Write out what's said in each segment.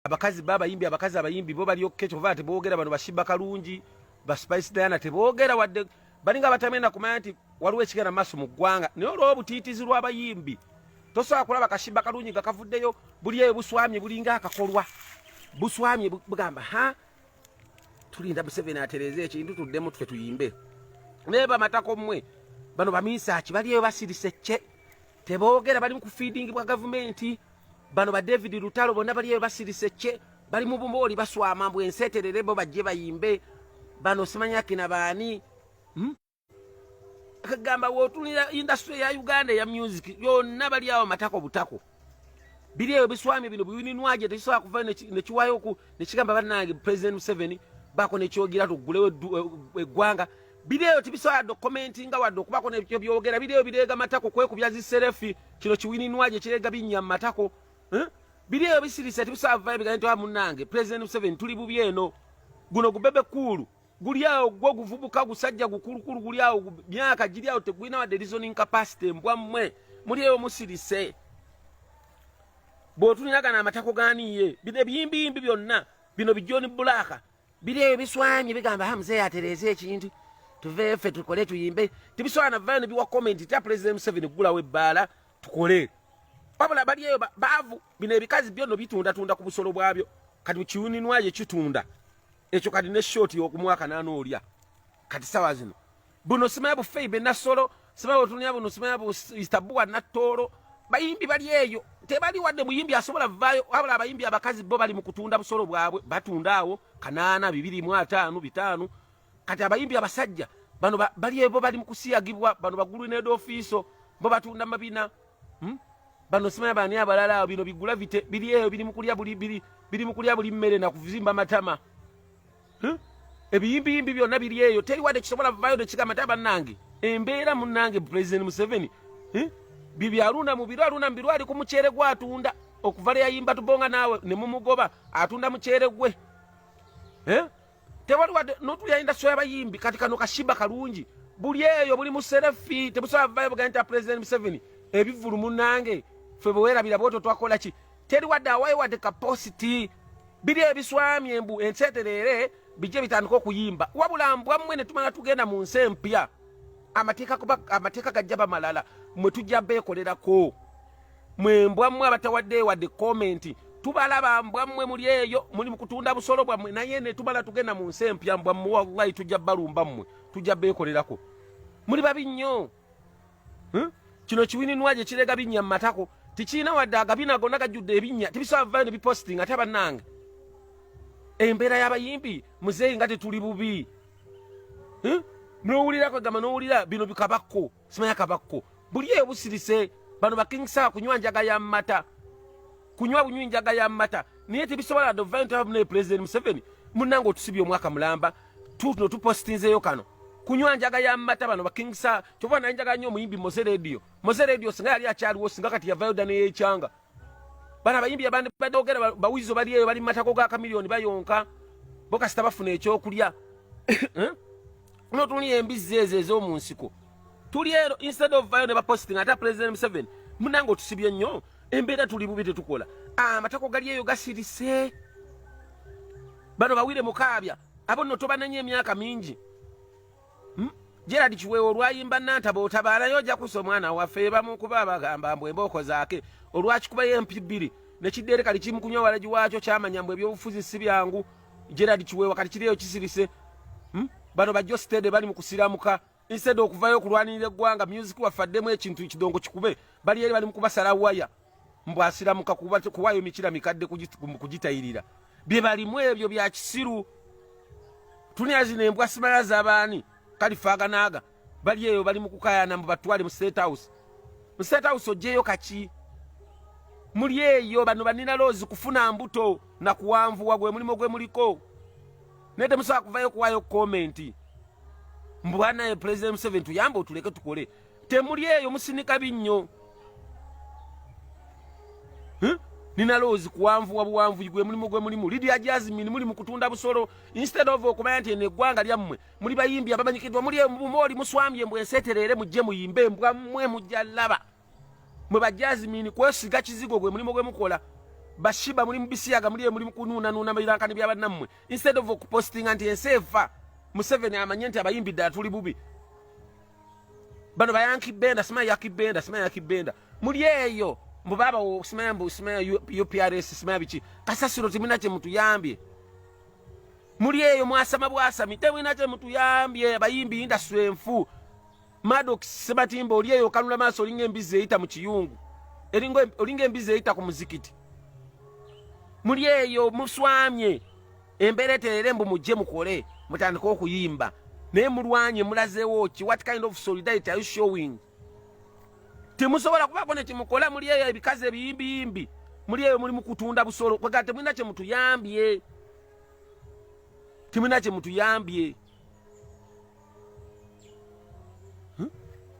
abakazi ba abayimbi abakazi abayimbi bo bali okke kyova tebogera bano bashibba kalungi ba spice diana tebogera wadde balinga batamenda kumanya nti waliwo ekigenda maaso mu ggwanga naye olwoba obutiitizi lw'abayimbi tosobola kulaba kashibba kalungi nga kavuddeyo buli eyo buswamye bulinga akakolwa buswamye bugamba ha tulinda museveni atereeza ekintu tuddemu tufe tuyimbe naye bamatako mmwe bano baminsaki bali eyo basirise kye tebogera bali mu kufiidingibwa gavumenti bano ba david lutalo bonna bali eyo basirise kye bali mu bumooli baswama mbu enseeterere bo bajje bayimbe bano simanyakina baani hmm? kagamba wotunira industry ya uganda eya music yonna bali awo matako butako biri eyo biswami bino biwininwaje tekisobola kuva nekiwayoku nekigamba banange president museveni bako nekyogira tugulewo eh, eggwanga Bideyo tibisobola yadde okukomentinga wadde okubaako nebyo byogera. Bideyo bireega matako kwekubya ziserefi kino kiwininwa gye kireega binnya mu matako. Eh? Bideyo bisirise tibisobola vaayo bigambo nti ah, munnange Pulezidenti Museveni tuli bubi eno. Guno gubebe kuulu guli awo gwo guvubuka gusajja gukulukulu guli awo myaka giri awo tegulina wadde reasoning capacity mbwa mmwe muli eyo musirise bw'otuniragana amatako ganiiye bino ebiyimbiyimbi byonna bino bijoni bulaaka biri ebiswanye bigamba ha mzee atereeza ekintu tuve ffe tukole tuyimbe tebisobola navayo nebiwa komenti tya pulezidenti museveni kugulawo ebbaala tukole wabula bali eyo baavu bino ebikazi byonno bitundatunda ku busolo bwabyo kati kiwuninwayo kitunda ekyo kati ne shoti yokumwaka nanoolya kati sawa zino buno simaya bufeyi benasolo simaya otunya buno simaya bu istabuwa natoro bayimbi bali eyo tebali wadde muyimbi asobola vayo wabula abayimbi abakazi bo bali mukutunda busolo bwabwe batunda awo kanana bibiri mu atano bitano kati abayimbi abasajja bano bali ebo bali mukusiyagibwa bano bagulu ne dofiso bo batunda mabina hmm? bano simaya bani abalala bino bigula vite bili eyo bili mukulya buli bili bili mukulya buli mmere na kuvimba matama hmm? ebiyimbiyimbi byonna biri eyo teri wadde kisobola vayo tekigamba nti abannange embeera munnange pulezidenti museveni hmm? bye byalunda mu biro alunda mu biro ali ku muceere gwe atunda okuva lwe yayimba tubonga naawe ne mumugoba atunda muceere gwe eh? tewali wadde notulya indasitry abayimbi kati kano kashiba kalungi buli eyo buli muserefi tebusobola vayo bugani nti pulezidenti museveni ebivulu munnange ffe bwe werabira bwoto twakola ki teri wadde awayo wadde kapositi biri ebiswamye embu enseetereere bijje bitandika okuyimba wabula mbwammwe ne tumala tugenda mu nsi empya amateeka kuba amateeka gajja bamalala mwe tujja beekolerako mwe mbwammwe abatawadde wadde komenti tubalaba mbwammwe muli eyo muli mukutunda busolo bwammwe naye ne tumala tugenda mu nsi empya mbwammwe wallahi tujja balumba mmwe tujja beekolerako muli babi nnyo hmm? kino kiwininwa gye kirega binnya mu matako tikirina wadde agabina gonna gajjudde ebinnya tibisobola vayo ne biposting ate bannange embeera y'abayimbi muzeeyi nga tetuli bubi hmm? nowulira kwegamba nowulira bino bikabakko simanya kabakko buli eyo busirise bano bakingisaa kunywa njaga ya mata kunywa bunywi njaga ya mata naye tebisobola dovayontabamunaye pulezidenti museveni munange otusibye omwaka mulamba tutuno tupositinzeyo kano kunywa njaga ya mata bano bakingisa kyova naye njaga nyo omuyimbi moze radio moze radio singa yali akyaliwo singa kati yavayo dda neyekyanga bana abayimbi abandi badogera bawizo bali eyo bali matako ga kamiliyoni bayonka bokasita bafuna ekyokulya eh? notuni embizzi ezo ez'omu nsiko tuli ero instead of vayo ne ba posting ata president Museveni munango tusibye nnyo embeera tuli bubi tetukola ah, amatako gali eyo gasirise bano bawire mukaabya abo no tobanenya emyaka mingi hmm? Gerard Kiweewa olwayimba Nantaba otabaalayo ojja kusa omwana waffe bamukuba abagamba mbu embooko zaake olwakikubayo empi bbiri ne kiddeere kali kimu kunywa walagi waakyo kyamanya mbu ebyobufuzi si byangu Gerard Kiweewa kati kiriyo kisirise hmm? bano bajjo siteede bali mu kusiramuka instead okuvayo okulwanirira eggwanga music waffe addemu ekintu ekidongo kikube bali eri bali mu kubasala waya mbu asiramuka kuwayo mikira mikadde kugitayirira bye balimu ebyo bya kisiru tunia zino embwa simala zabaani kalifaganaaga bali eyo bali mukukayana mbu batwale mu state house mu state house ojeyo kaki muli eyo bano banina loozi kufuna mbuto na kuwanvuwa gwe mulimu gwe muliko naye temusobola kuvayo kuwayo komenti mbwanaye president museven tuyambe otuleke tukole temuli eyo musinika binnyo nina loozi kuwanvuwa buwanvuyi gwe mulimu gwe mulimu lidia jasmine muli mukutunda busolo instead of okumanya nti eno eggwanga lyammwe muli bayimbi abamanyikidwa muli emubumooli muswambye mbwesetereere mujje muyimbe mbwa mmwe mujja laba mwe ba Jasmine kwesiga kizigo gwe mulimu gwe mukola bashiba mulimu bisiyaga muli mulimu kununa nuna mabirankani bya bannamwe instead of posting anti ensefa Museveni amanye nti abayimbi ddala tuli bubi bano bayanki benda simaya yaki benda simaya yaki benda muli eyo mbu baba simaya mbu simaya UPRS simaya biki kasasiro timina kye mutuyambye muli eyo mwasama bwasami temwina kye mutuyambye abayimbi industry enfu Maddox Sebatimba oli eyo kanula maaso olinga embizi eyita mu kiyungu eringa olinga embizi eyita ku muzikiti muli eyo muswamye embeera eterere mbu mujje mukole mutandike okuyimba naye mulwanye mulazeewo ki what kind of solidarity are you showing temusobola kubaako ne kimukola muli eyo ebikazi ebiyimbiyimbi muli eyo muli mukutunda busolo kwegala temulina kyemutuyambye temulina kyemutuyambye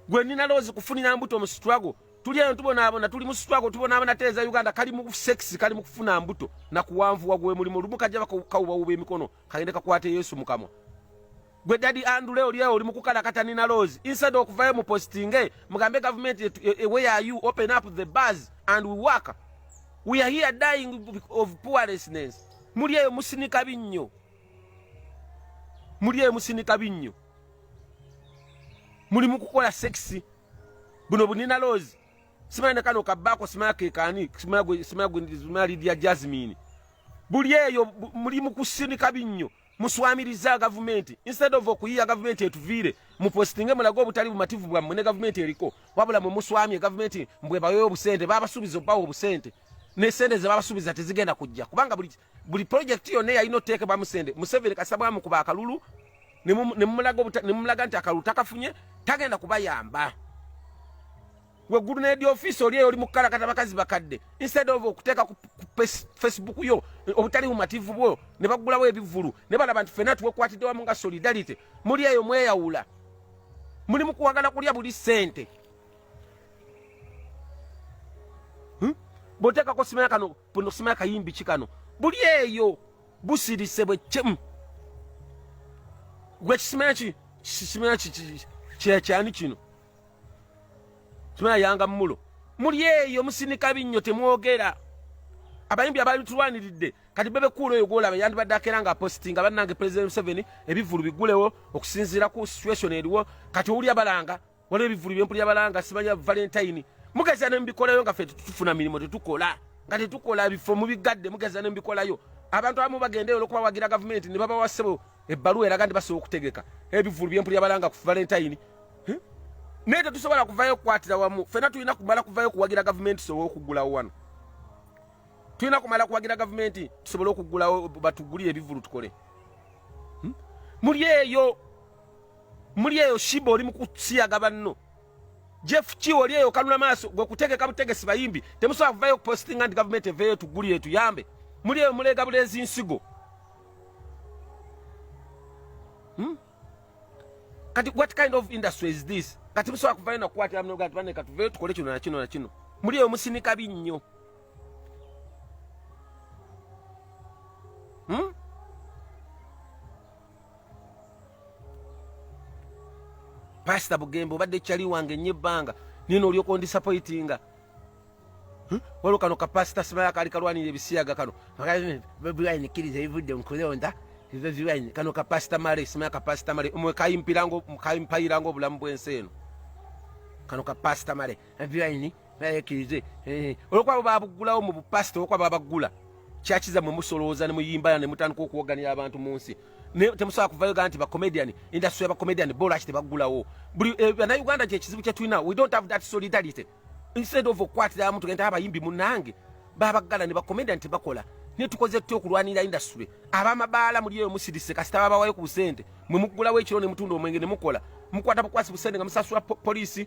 gwe nina loozi kufunira mbuto mu struggle tuli eno tubonaabona tuli mu struggle tubonaabona teeza uganda kali mu sex kali mu kufuna mbuto na kuwanvuwa gwe mulimu olumu kajja bakawubawuba emikono kagende kakwate yesu mukamwa gwe dadi andule oli oli mu kukalakata nina loozi instead okuvayo mu postinge mugambe gavumenti e, e, e, where are you open up the bars and we work we are here dying of poorlessness muli eyo musinika binnyo muli emusinika binnyo muli mukukola sekisi buno bunina loozi simanya nekano kabbaako simanya kekani simanya lidia jasmine buli eyo muli mukusinika binnyo muswamiriza gavumenti instead of okuyiya gavumenti etuviire mupositinge mulage obutali bumativu bwammwe ne gavumenti eriko wabula mwe muswamye gavumenti mbwebaweyo obusente babasuubiza obawa obusente nesente zebabasuubiza tezigenda kujja kubanga buli buli project yonna yalina oteekebwa musende museveni kasita bwamukuba akalulu nemumulaga nti akalulu takafunye tagenda kubayamba weggulu nedi ofiisi oli eyo oli mukukalakata bakazi bakadde instead of okuteeka ku facebook yo obutali bumativu bwo ne baggulawo ebivulu ne balaba nti fena tuwekwatidde wamu nga solidarity muli eyo mweyawula muli mukuwagala kulya buli sente hmm? bwoteekako simena kano buno sima kayimbi kikano buli eyo busirise bwe chim gwe kisima ki kisima ki kye kyani kino sima yanga mulo muli eyo musinika binyo temwogera abayimbi abali tulwaniridde kati bebe kuula oyo gwolaba yandibadde akeera nga apositi nga bannange president museveni ebivulu bigulewo okusinziira ku situation eriwo kati owulya balanga waliwo ebivulu byempulira balanga simanya valentine mugeza ne mubikolayo nga fe tetufuna mirimu tetukola nga tetukola ebifo mubigadde mugeza ne mubikolayo abantu abamu bagendeyo olwokubawagira gavumenti ne babawa ssebo ebbaluwa eraga nti basobola okutegeka ebivulu byempulira balanga ku valentine naye tetusobola kuvayo okukwatira wamu fena tulina kumala kuvayo okuwagira gavumenti tusobole okugulawo wano tulina kumala kuwagira gavumenti tusobole okugulawo batugulire ebivulu tukole hmm? muli eyo muli eyo shiba oli mukusiyaga banno jeff ki oli eyo kanula maaso gwe kutegeka butegesi bayimbi temusobola kuvayo okupostinga nti gavumenti eveeyo tugulire tuyambe muli eyo muleega buleezi nsigo hmm? kati what kind of industry is this kati musobola kuvayo nakukwatira mnoga nti baneka tuveyo tukole kino nakino nakino muli eyo musinika binnyo hmm? pasita bugembe obadde kyali wange nnyo ebbanga nino olyoka ondisapoitinga hmm? waliwo kano kapasita simala kaali kalwanira ebisiyaga kano bobiwine kkiriza ebivudde mukulonda bobiwine kano kapasita male simala kapasita male mwe kayimpayiranga obulamu bwensi eno kano kapasita male ebyayini nayekirize eh, olwokuba babuggulawo mu bupasita olwokuba babaggula kyakiza mwe musolooza ne muyimbala ne mutandika okuwoganira abantu mu nsi temusobola kuvayo ga nti bacomedian industry yabacomedian bo lwaki tebaggulawo buli eh, banauganda kyekizibu kyetulina we don't have that solidarity instead of okukwatira muntu genda abayimbi munange babagala ne bacomedian tebakola naye tukoze tutya okulwanira industry abamabaala muli eyo musirise kasita babawayo ku busente mwe muggulawo ekiro ne mutunda omwenge ne mukola mukwata bukwasi busente nga musasula polisi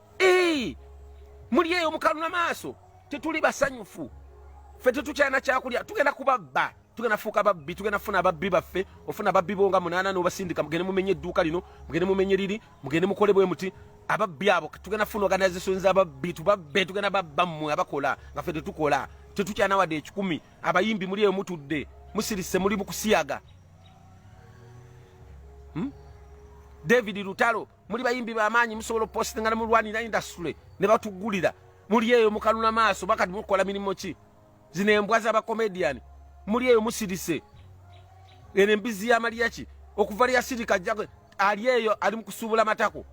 Hey, muli eyo mukaluna maaso tetuli basanyufu ffe tetukyalina kyakulya tugenda kubabba tugenda fuuka babbi tugenda funa ababbi baffe ofuna ababbi bo nga munaana nobasindika mugende mumenye edduuka lino mugende mumenye liri mugende mukole bwe muti ababbi abo tugenda funa organization zababbi tubabbe tugenda babba mmwe abakola nga ffe tetukola tetukyalina wadde ekikumi abayimbi muli eyo mutudde musirise muli mukusiyaga hmm? david lutalo muli bayimbi bamaanyi musobola opostinga nemulwanira industry nebatugulira muli eyo mukanuna maaso bakati mukukola mirimu ki zino embwa zabakomedian muli eyo musirise eno embizi yamaliyaki okuva lyasirika ajja ali eyo ali mukusuubula matako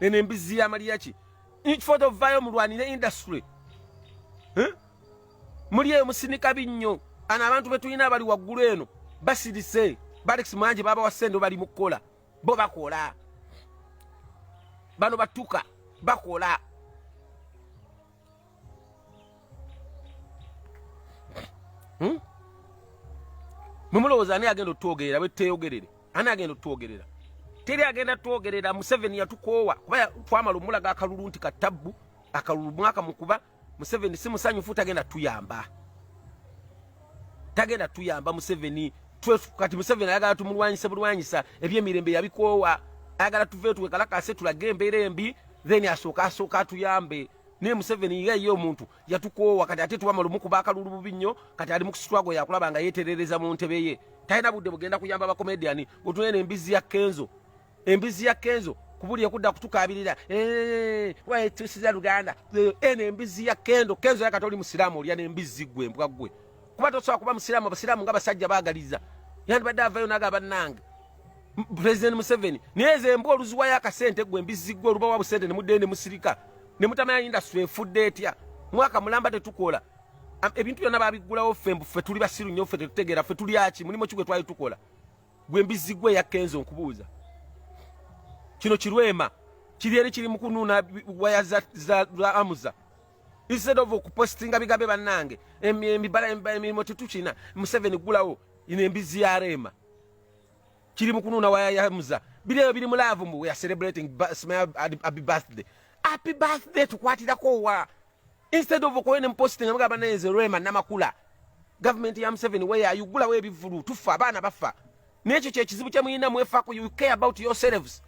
eno embizi yamaliyaki nkifoto vayo mulwanire industry eh? muli eyo musinika binnyo ana abantu betulina abali waggulu eno basirise balex mwanje baba wasente bali mukukola bo bakola bano batuka bakola hmm? mumulowooza ani agenda otwogerera bwetuteyogerere ani agenda otwogerera teri agenda twogerera museveni yatukoowa kuba twamala omulaga akalulu nti katabbu akalulu mwaka mukuba Museveni si musanyufu tagenda tuyamba. Tagenda tuyamba Museveni kati Museveni ayagala tumulwanyise bulwanyisa ebyemirembe yabikoowa ayagala tuve tuwe kalakase tulage embeera embi then asooka asooka atuyambe naye Museveni ye ye omuntu yatukoowa kati ate tuba malumu kuba akalulu bubi nnyo kati ali mu kusitwago yakulaba nga yeeterereza mu ntebe ye talina budde bugenda kuyamba bakomediyani otunene embizi ya kenzo embizi ya kenzo kubuli okudda kutukabirira eh, waetusiza luganda eh, eno embizi ya kendo kenzo yakati oli musiraamu olya nembizi gwe mbwa gwe kuba tosobola kuba musiraamu abasiraamu nga basajja bagaliza yandibadde avayo naga bannange president museveni naye ze mbwa oluziwayo akasente gwe embizi gwe olubawa busente nemuddee nemusirika nemutamanya indasitry efudde etya mwaka mulamba tetukola ebintu byonna babiggulawo ffe mbu ffe tuli basiru nnyo ffe tetutegeera ffe tulyaki mulimu ki gwe twali tukola gwe mbizzi gwe eya kenzo nkubuuza kino kirwema kiri eri kiri mukunuuna waya za, za, za amuza instead of okupostinga bigambe bannange emibala emirimu tetukina museveni gulawo ino embizzi ya reema kiri mukunuuna waya ya amuza biri ebyo biri mulaavu mbu weare celebrating sma abi birthday api birthday tukwatirako wa instead of okuba ne mposti nga mugamba naye nze rema namakula gavumenti ya museveni weyayugulawo ebivulu tufa abaana bafa nekyo kyekizibu kyemuyina mwefaku you care about yourselves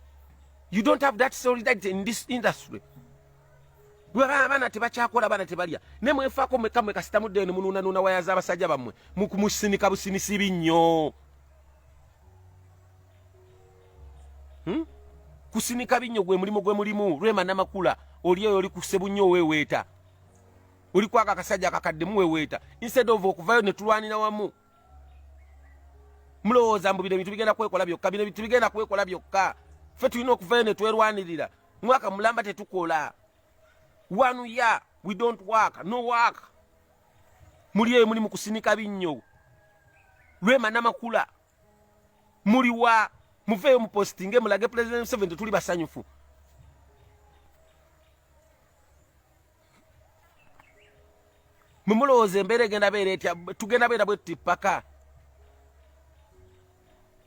you don't have that solidarity in this industry abaana tebakyakola abaana tebalya naye mwefaako mweka mwe kasitamudde ne munuunanuuna waya z'abasajja bammwe musinika businisibi nnyo hmm? kusinika binnyo gwe mulimu gwe mulimu lwema namakula oli eyo oli kusebunnyo oweweeta oli kwaka akasajja akakaddemu weweeta instead of okuvayo ne tulwanira wamu mulowooza mbu bino ebintu bigenda kwekola byokka bino ebintu bigenda kwekola byokka ffe tulina okuvayo ne twerwanirira mwaka mulamba tetukola one year we don't work no work muli eyo muli mukusinika binnyo lwema namakula muli wa muveeyo mupostinge mulage president museveni tetuli basanyufu mwemulowooza embeera egenda beera etya tugenda beera bwetuti paka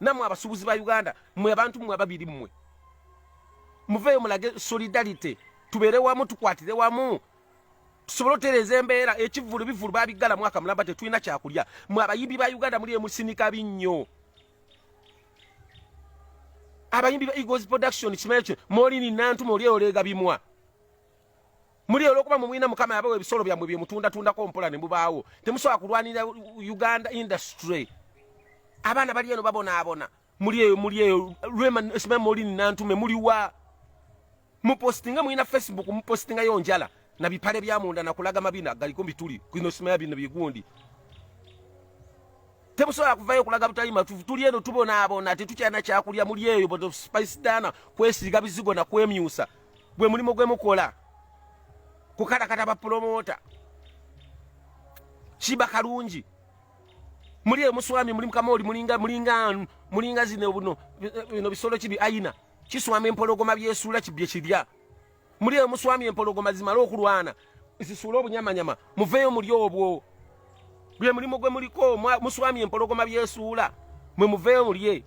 namwe abasubuzi ba Uganda mwe abantu mwe ababiri mwe muveyo mulage solidarity tubere wamu tukwatire wamu tusobole otereza embeera ekivulu bivulu babigala mwaka mulamba tetulina kyakulya mwe abayimbi ba Uganda muli emusinika binnyo abayimbi ba Eagles production kimayo kyo moli ni nantu moli olega bimwa muli olwokuba mumwina mukama yabawa ebisolo byamwe byemutundatundako mpola nemubaawo temusobola kulwanira uganda industry abaana bali eno babonaabona muli eyo muli eyo lwemamolini nantume muliwa mupostinga mulina facebook mupostingayo njala na bipale byamunda nakulaga mabina galiko bituli kino simaya bino bigundi temusobola kuvayo okulaga butali matufu tuli eno tubonaabona tetukyana kyakulya muli eyo spice dana kwesiiga bizigo nakwemyusa gwe mulimu gwe mukola kukalakata bapulomoota kiba kalungi muli eyo muswami muli mukamooli mulinga mulinga mulinga zino buno bino bisolo kibi ayina kiswama empologoma byesula kibye kirya muli eyo muswami empologoma zimala okulwana zisuula obunyamanyama muveeyo muli obwo gwe mulimu gwe muliko muswami empologoma byesuula mwe muveeyo mulye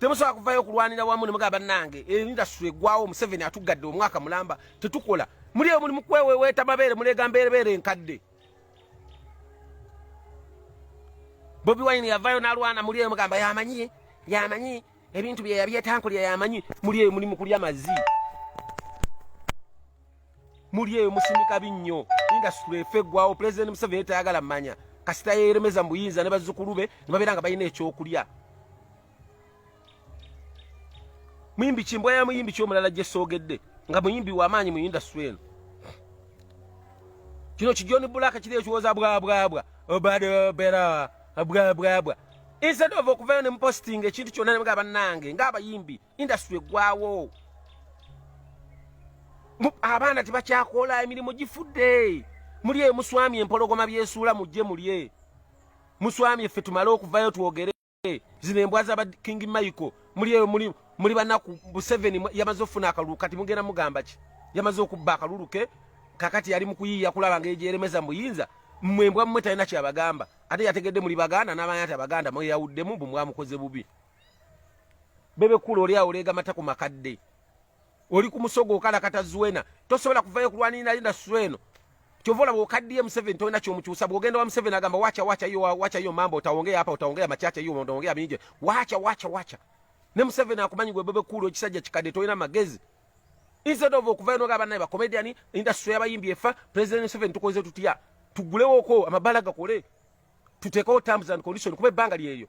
temusobola kuvayo okulwanira wamu ne mugamba bannange endasitule egwawo museveni atuggadde omwaka mulamba tetukola muli eyo muli mukweweweeta mabeere muleega mbeerebeere enkadde bobi wine yavayo nalwana muli eyo mugamba yamanyi yamanyi ebintu byeyabyetankuli yamanyi muli eyo muli mukulya mazii muli eyo musumika binnyo industry efe eggwawo pulezidenti museveni tayagala manya kasita yeeremeza mu buyinza ne bazzukulu be ne babeera nga balina ekyokulya muyimbi kimbwa ya muyimbi kyomulala gye soogedde nga muyimbi wamaanyi mu industry eno kino kijoni bulaka kiri ekiwoza bwabwabwa obade bera bwabwabwa instead of okuvayo ne muposting ekintu kyonna ne mga bannange ng'abayimbi industry eggwawo abaana tebakyakola emirimu gifudde muli emuswami empologoma byesuula mujje mulye muswami effe tumale okuvayo twogere zino embwa za king michael muli eyo muli muli banaku museveni yamaze okufuna akalulu kati mugenda mugamba ki yamaze okubba akalulu ke kakati yali mukuyiiya kulaba nga egyeremeza muyinza mmwe embwa mmwe talina kyabagamba ate yategedde muli baganda n'abaana tabaganda mweyawuddemu bwe mwamukoze bubi bebe kula oli awo lega matako makadde oli ku musogo okalakata zuena tosobola kuvayo kulwanirira linda sueno kyova olaba okaddiye museveni tolina kyomukyusa bwogenda wa museveni agamba wacha wacha yo wacha yo mambo utaongea hapa utaongea machache yo utaongea mingi wacha wacha wacha ne museveni akumanyi gwe bebe kula ekisajja kikadde tolina magezi instead of okuvayo noga banaye bakomediani industry yabayimbi efa president museveni tukoze tutya tugulewoko amabala gakole tutekewo terms and condition kuba ebbanga lyeyo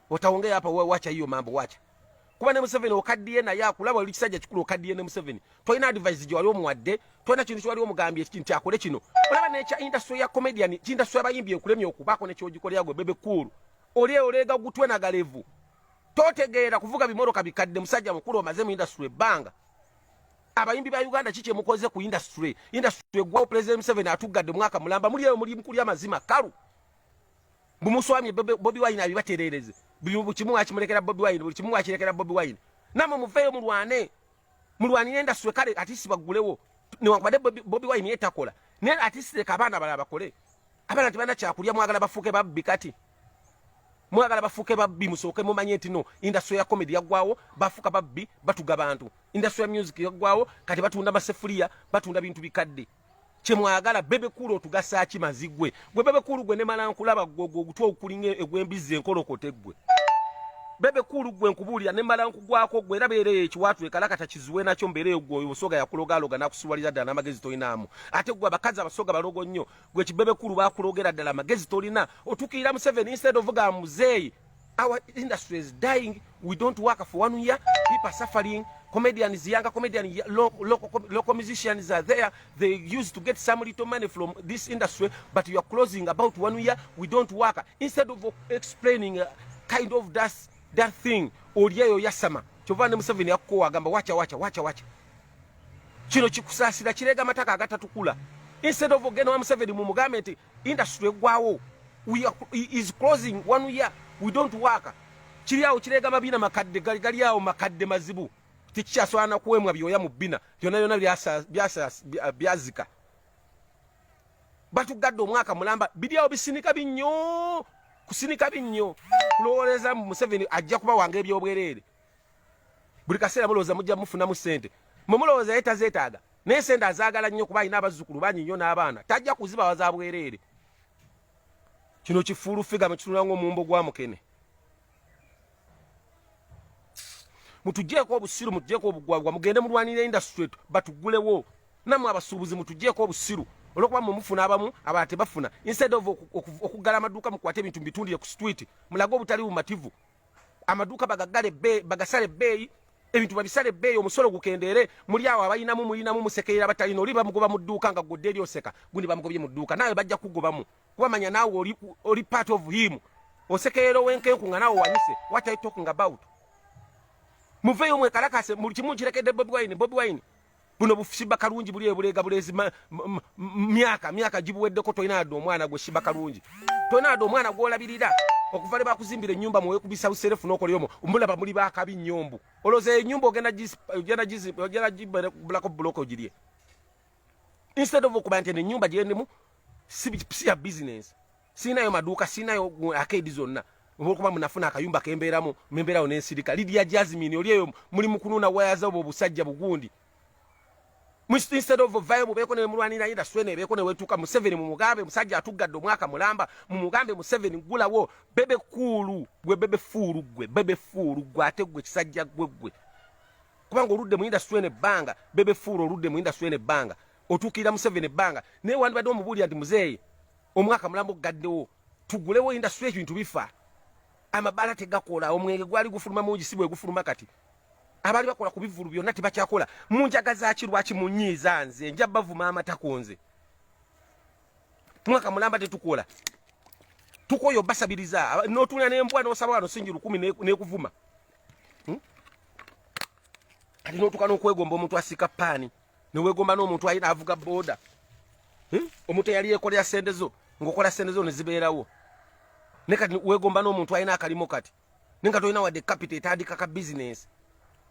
otaongea hapa wewe wacha hiyo mambo wacha kuba ne Museveni okaddiye naye akulaba oli kisajja kikulu okaddiye ne Museveni tolina advice gye wali omuwadde tolina kintu kyewali omugambye kiki nti akole kino olaba nekya industry ya comedian kindustry abayimbi ekulemye okubaako nekyogikolera gwe bebe kuulu oli oleega gutwe na galevu totegeera kuvuga bimoroka bikadde musajja mukulu omaze mu industry ebbanga abayimbi ba uganda kiki emukoze ku industry industry egwawo president Museveni atuggadde mwaka mulamba muli eyo muli mukuli amazima kalu Mbu muswamye Bobi Wine abibaterereze. Buli kimu akimulekera Bobi Wine, buli kimu akilekera Bobi Wine. Namwe muveyo mulwane. Mulwanire ndaswe kale atisi bagulewo. Ne wakubade Bobi, Bobi Wine yetakola. Ne atisi leka abana bala bakole. Abana tibana kyakulya mwagala bafuke babbi kati. Mwagala bafuke babbi musoke mumanye nti no industry ya comedy yagwawo bafuka babbi batuga bantu. Industry ya music yagwawo kati batunda masefulia, batunda bintu bikadde. kyemwagala bebe kulu otugasa ki mazigwe gwe bebe kulu gwe nemala nkulaba gogo ogutwa okulinga egwembizi enkolokote gwe bebe kulu gwe nkubuulira nemala nkugwako gwe era beera ekiwaatu ekalakata kizuwe nakyo mbeera eyo gwe osoga yakulogaloga nakusiwalira ddala n'amagezi tolinaamu ate gwe abakazi abasoga balogo nnyo gwe kibebe kulu bakulogera ddala amagezi tolina otukiira museveni instead ovuga muzeeyi our industry is dying we don't work for one year people are suffering comedians younger comedian local, local, local musicians are there they used to get some little money from this industry but you are closing about one year we don't work instead of explaining uh, kind of that, that thing olyeyo yasama kyova ne museveni yakukowa agamba wacha wacha wacha wacha kino kikusasira kirega amataka agatatukula instead of ogenda wa museveni mumugambe nti industry egwawo we are, is closing one year we don't work kiri awo kirega mabina makadde gali gali awo makadde mazibu tikyaswana na kuwemwa byoya mu bina byona byona byasa byasa byazika batu gaddo mwaka mulamba bidi awo bisinika binyo kusinika binyo kulowoleza mu Museveni ajja kuba wange byobwerere buli kaseera mulowooza mujja mufunamu sente mwe mulowooza ye tazeetaaga naye sente azaagala nnyo kuba alina abazzukulu bangi nnyo n'abaana tajja kuzibawa za bwereere kino kifuulu figa mukitunula ngaomumbo gwa mukene mutujeeko obusiru mutujeeko obugwagwa mugende mulwanira industry batugulewo namwe abasuubuzi mutujeeko obusiru olwokuba mwe mufuna abamu abala tebafuna instead of okuggala amaduuka mukwate ebintu mubitundire ku street mulage obutali bumativu amaduuka bagaggale ebbeeyi bagasala ebbeeyi ebintu babisala ebbeeyi omusolo gukendeere muli awo abalinamu mulinamu musekerera abatalina oli bamugoba mu dduuka nga gwodde eri oseka gundi bamugobye mu dduuka naawe bajja kugobamu kuba manya naawe oli, oli part of him osekerera owenkenku nga naawe wanyise what are you talking about muveeyo mwekalakase buli kimu nkirekedde bobi wine bobi wine buno bushiba kalungi buli ebulega bulezi myaka myaka gibuweddeko tolina yadde omwana gwe shiba kalungi tolina yadde omwana gwolabirira okuva lwe bakuzimbira ennyumba mwoyo kubisa buserefu nokoleyomo omulaba muli bakabi nyombu oloza enyumba ogenda ogenda ogenda gibulako buloko ogirye instead of okuba nti enyumba gyendemu si ya bizinensi sirinayo maduuka sirinayo akeedi zonna olwokuba munafuna akayumba kembeeramu membeerawo nensirika lidia jasmin oli eyo muli mukununa wayaza obwo obusajja bugundi instead of vayo bubeeko nemulwanira yinda swena ebeeko newetuuka museveni mumugambe musajja atuggadde omwaka mulamba mumugambe museveni gulawo bebe kuulu gwe bebe fuulu gwe bebe fuulu gwe ate gwe kisajja gwe gwe kubanga oludde mu yinda swena ebbanga bebe fuulu oludde mu yinda swena ebbanga otuukirira museveni ebbanga naye wandibadde omubuulira nti muzeeyi omwaka mulamu gugaddewo tugulewo indasitule ebintu bifa amabaala tegakola omwenge gwali gufuluma mungi si bwe gufuluma kati abaali bakola ku bivulu byonna tebakyakola munjaga zaki lwaki munyiiza nze nja bavuma amatako nze mwaka mulamba tetukola tukoyo basabiriza notuna nembwa nosaba wano singi lukumi nekuvuma hmm? kati notuka nokwegomba omuntu asika paani newegomba n'omuntu ayina avuga boda hmm? omuntu eyali yekolera sente zo ngaokola sente zo nezibeerawo ne kati wegomba n'omuntu ayina akalimu kati ne nga tolina wadde kapita etandika ka bizinesi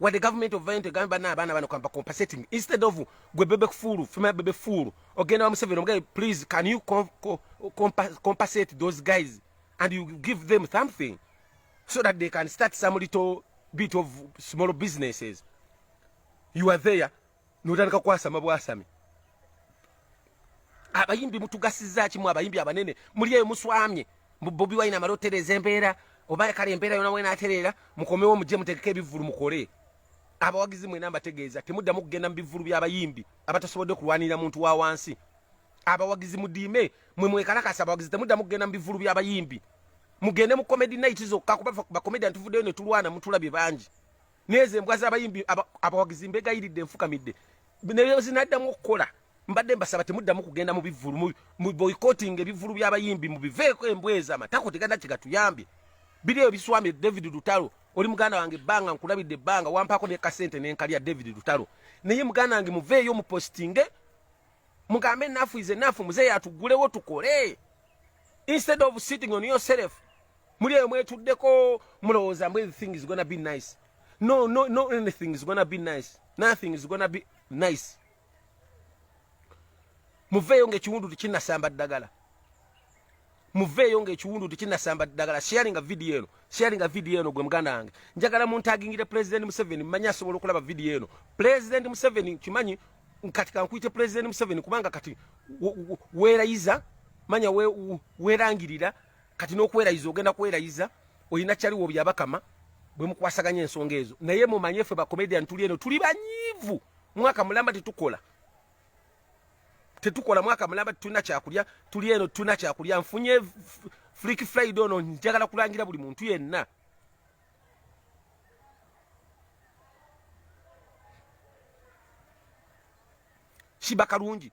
wadde gavument of violent egambe bana abaana bano kampa compensating instead of gwe bebe kufuulu fema bebe fuulu ogenda wa museveni omugaye please can you com com compa compensate those guys and you give them something so that they can start some little bit of small businesses you are there notandika kwasama bwasami abayimbi mutugasiza kimu abayimbi abanene muli eyo muswamye bobi wine amala otereza embeera oba kale embeera yona wena aterera mukomewo muje mutegeka ebivulu mukole abawagizi mwena mbategeeza temuddamu kugenda mu bivulu byabayimbi abatasobodde kulwanirira muntu wa wansi abawagizi mudiime mwe mwekalakasa abawagizi temuddamu kugenda mu bivulu byabayimbi mugende mu comedy night zokka kuba bakomedian tuvuddeyo netulwana mutulabye bangi nezo embwa zabayimbi abawagizi mbegayiridde nfukamidde neyo zinaddamu okukola mbadde mbasaba temuddamu kugenda mu bivulu mu boycotting ebivulu by'abayimbi mubiveeko embwa ezo amatako teganda kigatuyambye biri eyo biswamye david lutalo oli muganda wange ebbanga nkulabidde ebbanga wampaako ne kasente nenkalya david lutalo naye muganda wange muveeyo mupostinge mugambe enafu ize nafu muzeeyo atugulewo tukole instead of sitting on yourself muli eyo mwetuddeko mulowooza mbu everything is gonna be nice no no no anything is gonna be nice nothing is gonna be nice muveeyo ngaekiwundu tekinasamba ddagala muveeyo ngaekiwundu tekinasamba ddagala sharinga vidiyo eno sharinga vidiyo eno gwe muganda wange njagala muntagingire pulezidenti museveni mmanyi asobola okulaba vidiyo eno pulezidenti museveni kimanyi kati kankuyite pulezidenti museveni kubanga kati weerayiza manya weerangirira we, we kati n'okwerayiza ogenda kwerayiza olina kyaliwo byabakama bwe mukwasaganya ensonga ezo naye mumanye ffe bacomedian tuli eno tuli banyiivu mwaka mulamba tetukola tetukola mwaka mulamba tetulina kyakulya tuli eno tetulina kyakulya nfunye flick friday ono njagala kulangira buli muntu yenna shiba kalungi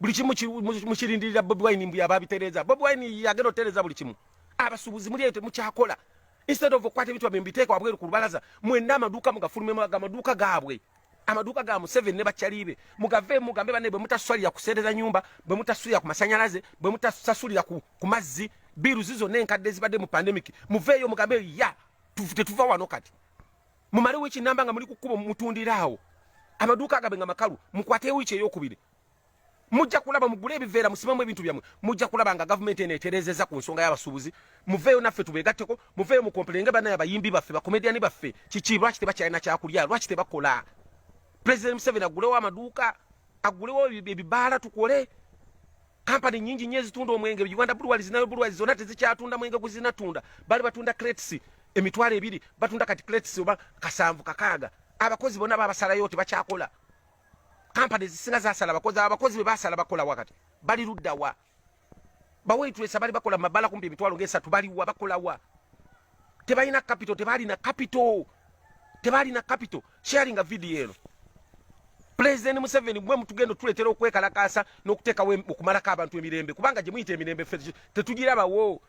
buli kimu mukirindirira bobi wine mbu yaba abitereeza bobi wine yagenda otereeza buli kimu abasuubuzi muli eyo temukyakola instead of okukwata ebintu bamwe mbiteeka wabweru ku lubalaza mwenna amaduuka mugafulumemu aga amaduuka gaabwe amaduuka ga museveni ne bakyaliibe mugave mugambe banne bwe mutasalira kuseereza nyumba bwe mutasulira ku masanyalaze bwe mutasasulira ku, ku mazzi biiruzi zonna enkadde ezibadde mu pandemic muveeyo mugambe ya tetuva wano kati mumalewo ekinamba nga muli ku kkubo mutundiraawo amaduuka agabe nga makalu mukwate wiiki eyokubiri mujja kulaba mugule ebiveera musimamu ebintu byammwe mujja kulaba nga gavumenti eno eterezeza ku nsonga y'abasuubuzi muveeyo naffe tubeegatteko muveeyo mukompulenge banaye abayimbi baffe bakomediyani baffe kiki lwaki tebakyalina kyakulya lwaki tebakola pulezidenti museveni agulewo amaduuka agulewo ebibaala tukole kampani nyingi nyo ezitunda omwenge uganda bulwali zinayo bulwali zona tezikyatunda mwenge guzinatunda bali batunda crates emitwalo ebiri batunda kati crates oba kasanvu kakaaga abakozi bona babasalayo tebakyakola kampani zisinga zasala abakozi abakozi bebasala bakola wakati bali luddawa baweitulesa bali bakola mabala kumpi emitwalo ngesatu baliwa bakolawa tebalina kapito tebalina kapito tebalina kapito sharinga vidiyo eno pulezidenti museveni mwe mutugenda otuleetera okwekalakaasa n'okuteekawo okumalako abantu emirembe kubanga gye muyita emirembe ffe tetugirabawo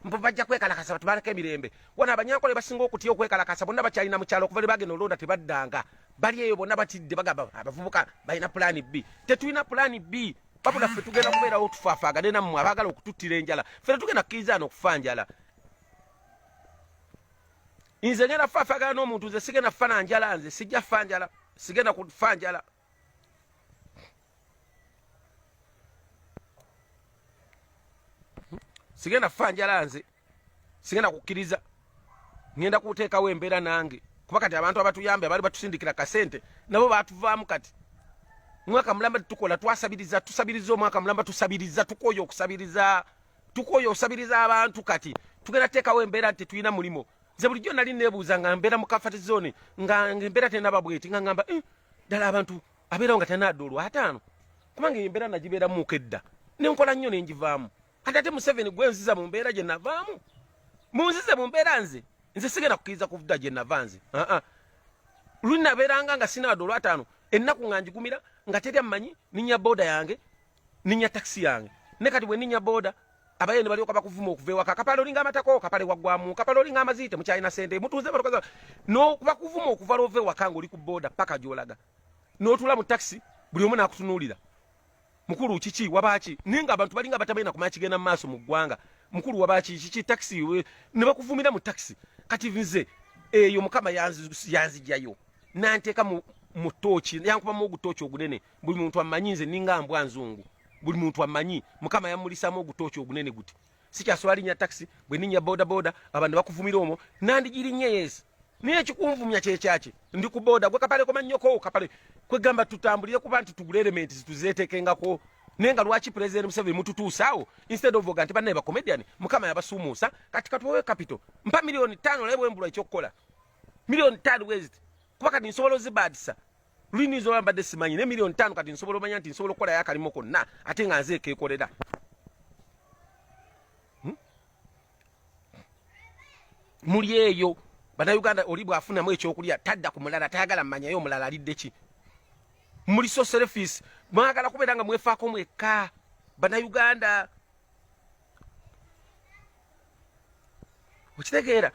mbu bajja kwekalakasa batubaleko emirembe wano abanyankole basinga okutya okwekalakasa bonna bakyalina mukyalo okuva lwe bagenda olonda tebaddanga bali eyo bonna batidde bagamba abavubuka balina pulaani bbi tetulina pulaani bbi babula ffe tugenda kubeerawo tufafaagane nammwe abaagala okututtira enjala ffe tetugenda kukirizana okufa njala nze ngenda fafaagana n'omuntu nze sigenda fana njala nze sijja fa njala sigenda kufa njala sigenda kufa njala nze sigenda kukkiriza ngenda kuteekawo embeera nange kuba kati abantu abatuyambe abaali batusindikira kasente nabo batuvaamu kati mwaka mulamba tukola twasabiriza tusabiriza omwaka mulamba tusabiriza tukoye okusabiriza tukoye okusabiriza abantu kati tugenda teekawo embeera nti tetulina mulimu nze bulijjo nali nebuuza nga mbeera mu kafati zone nga embeera tenaba bweti nga ngamba eh, ddala abantu abeerawo nga tenaadda olwataano kubanga embeera nagibeeramuuko edda nenkola nnyo nenjivaamu ati ate museveni gwe nziza mu mbeera gye navaamu munzize mu mbeera nze nze sigenda kukiriza kuvuda gye nava nze aa luli nabeeranga nga sinaadda olwataano ennaku nga njigumira nga teri ammanyi ninya booda yange ninya taxi yange ne kati bwe ninya boda abaye ne balyoka bakuvuma okuva ewaka akapale olinga amatako kapale waggwamu kapale olinga amaziite mukyalina sente mutuuze balokoza nokubakuvuma okuva lwova ewaka nga oli ku boda paka gyolaga notula mu taxi buli omu nakutunuulira mukulu kiki wabaki naye nga abantu balinga batamanyi nakumanya kigenda mu maaso mu ggwanga mukulu wabaki kiki taxi ne bakuvumira mu taxi kati nze eyo mukama yanzijayo nanteeka mu tooki yankubamu ogutooki ogunene buli muntu amanyi nze ninga mbwa nzungu buli muntu amanyi mukama yamulisamu ogutooki ogunene guti sikyasobola linya taxi bwe ninya boda boda abantu bakuvumira omwo nandigirinya yes naye ekikunvumya kyekyaki ndi ku boda gwe kapale komanyoko kapale kwegamba tutambulire kuba nti tugula elementi zituzetekengako naye nga lwaki president museveni mututuusaawo instead of oga nti bannaye bacomedian mukama yabasuumuusa kati katuwewe capital mpa miliyoni tano naye bwembulwa ekyokukola miliyoni tano wezit kuba kati nsobola ozibaadisa lulina izo bambadde simanyi ne milioni tano kati nsobola omanya nti nsobola okukolayo akalimu konna ate nga nze ekekolera hmm? muli eyo banauganda oli bwafunamu ekyokulya tadda ku mulala tayagala mmanyayo omulala alidde ki muli soserefisi mwagala kubeera nga mwefaako mwekka banauganda okitegeera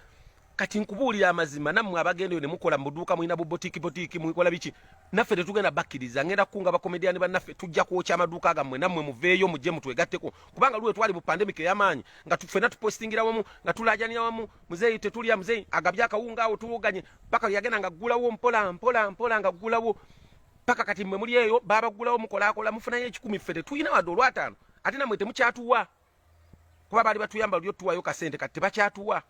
kati nkubuulira amazima nammwe abagenda eyo ne mukola mu buduuka mulina bubotiiki botiiki mukola biki naffe tetugenda bakkiriza ngenda kukunga bakomediyani bannaffe tujja kwokya amaduuka gammwe nammwe muveeyo mujje mutwegatteko kubanga luwe twali mu pandemic ey'amaanyi nga ffena tupostingira wamu nga tulajanira wamu muzeeyi tetulya muzeeyi agabye akawunga awo tuwoganye paka yagenda nga ggulawo mpola mpola mpola nga ggulawo paka kati mmwe muli eyo baabaggulawo mukolaakola mufunayo ekikumi ffe tetulina wadde olwataano ate namwe temukyatuwa kuba baali batuyamba luli otuwayo kasente kati tebakyatuwa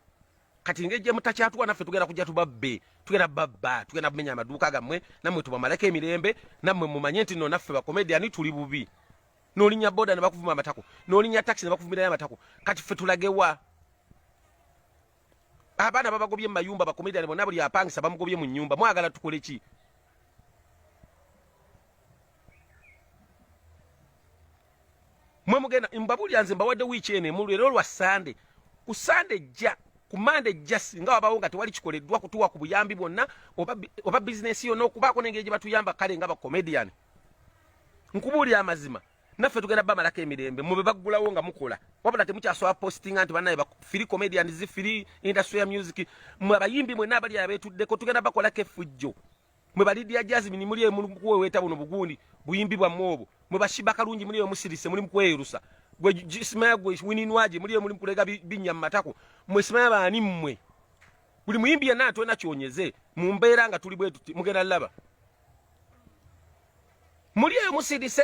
kati ngejje mutakyatuwa naffe tugenda kujja tubabbe tugenda babba tugenda kumenya amaduuka gammwe nammwe tubamaleko emirembe nammwe mumanye nti no naffe bakomediani tuli bubi nolinya boda nebakuvuma amatako nolinya taxi nebakuvumirayo amatako kati ffe tulagewa abaana babagobye mumayumba bakomediani bonna buli apangisa bamugobye mu nyumba mwagala tukole ki mwe mugenda mbabulira nze mbawadde wiiki eno emu leero lwa sande ku sande ejja ku mande ejja singa wabawo nga tewali kikoleddwa kutuwa ku buyambi bwonna oba bizinesi yonna okubaako nengeri gye batuyamba kale nga bacomedian nkubuulira amazima naffe tugenda bamalako emirembe mube baggulawo nga mukola wabula temukyasobola postinga nti banaye firi comedian zi firi industry ya music mwe abayimbi mwena abali abeetuddeko tugenda bakolako efujjo mwe ba Lydia Jasmine muli emuli kuweweeta buno bugundi buyimbi bwa mwobo mwe ba Shiba Kalungi muli emusirise muli mukweyerusa gwe Ismaya gwe wininwaje muli emuli kulega binya matako mwe Ismaya baani mwe buli muyimbi yana atwena kyonyeze mu mbeera nga tuli bwetuti mugenda laba muli emusirise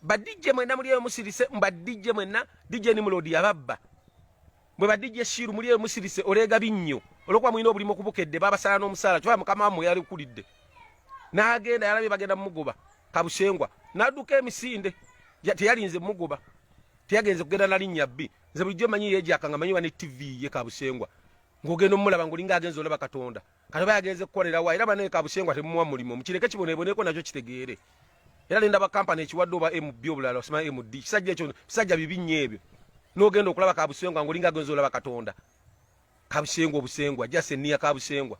ba DJ mwena muli emusirise mba DJ mwena DJ ni mulodi yababba Mwe ba DJ Shiru muli eyo musirise olega binnyo. Olwokuba mulina obulimu okubukedde babasala n'omusaala kyokka mukama wammwe yalikulidde. N'agenda yalabye bagenda mugoba kabusengwa n'adduka emisinde teyalinze mugoba teyagenze kugenda na linnya bbi nze bulijjo manyi yeegyaka nga manyi wa ne ttivi ye kabusengwa ng'ogenda omulaba ng'olinga agenza olaba katonda kati oba yagenze kukolera wa era banaye kabusengwa temuwa mulimu mukireke kiboneboneko nakyo kitegeere era nenda bakampani ekiwadde oba mb obulala osima md kisajja ekyo bisajja bibi nnyo ebyo n'ogenda okulaba kabusengwa ngaolinga agenza olaba katonda kabusengwa obusengwa jasi eniya kabusengwa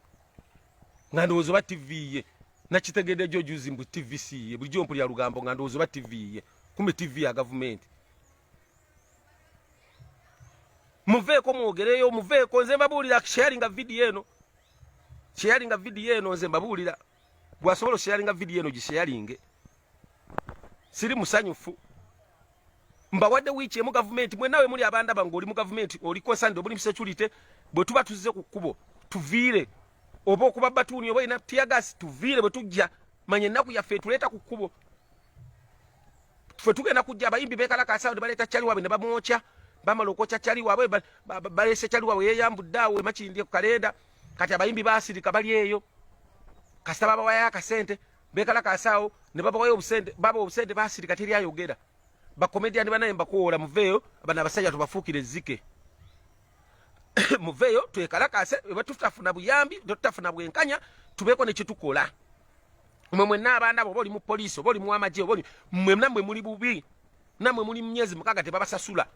nga ndowooza oba tv ye nakitegedde jo juzi mbu tv si ye bulijjo mpulira lugambo nga ndowooza oba tv ye kumbe tv ya gavumenti muveeko mwogereyo muveeko nze mbabuulira sharinga vidiyo eno sharinga vidiyo eno nze mbabuulira gwasobola osharinga vidiyo eno gisharinge siri musanyufu mbawadde wiiki emu gavumenti mwenawe muli abandaba ngaoli mu gavumenti oli konsande obuli musecurity bwe tuba tuzze ku kkubo tuviire oba okuba batuuni oba ina tiagasi tuviire bwe tujja manya ennaku yaffe etuleeta ku kkubo ffe tugenda kujja abayimbi bekalakaasa ne baleeta cali waabwe ne bamwokya bamala okwokya cali waabwe baleese cali waabwe yeeyambudde awo emakindye ku kalenda kati abayimbi baasirika bali eyo kasita babawayo akasente bekalakaasa awo ne babawayo obusente baba obusente baasirika teri ayogera bakomediani banaye mbakuwola muveeyo bana abasajja tubafuukire ezzike muveeyo twekalakaase ebatutafuna buyambi tetutafuna bwenkanya tubeeko ne kyetukola mwe mwenna abaana bo boli mu poliisi oba oli mu amagye oba oli mwe namwe muli bubi namwe muli mu myezi mukaaga tebabasasula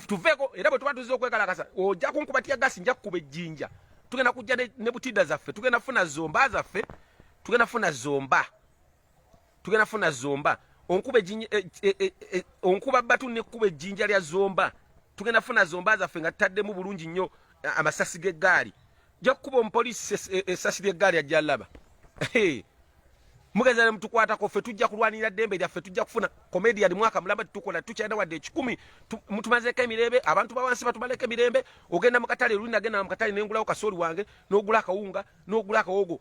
tuveeko era bwe tuba tuzze okwekalakasa ojja kunkuba tya gasi nja kukuba ejjinja tugenda kujja ne butida zaffe tugenda funa zomba zaffe tugenda funa zomba tugenda funa zomba onkuba ejinja e, e, e, e, onkuba batu ne kuba ejinja lya zomba tugenda funa zomba za fenga tadde mu bulungi nyo amasasi ge gaali ja kuba on police esasi lya gaali ajja laba hey. mugeza ne mutukwata ko fe tujja kulwanira dembe lya fe tujja kufuna comedian mwaka mulamba tukola tukyenda wadde ekikumi mutumaze ka mirebe abantu bawansi batubaleke mirembe ogenda mukatale lulina genda mukatale nengula okasoli wange nogula kawunga nogula kawogo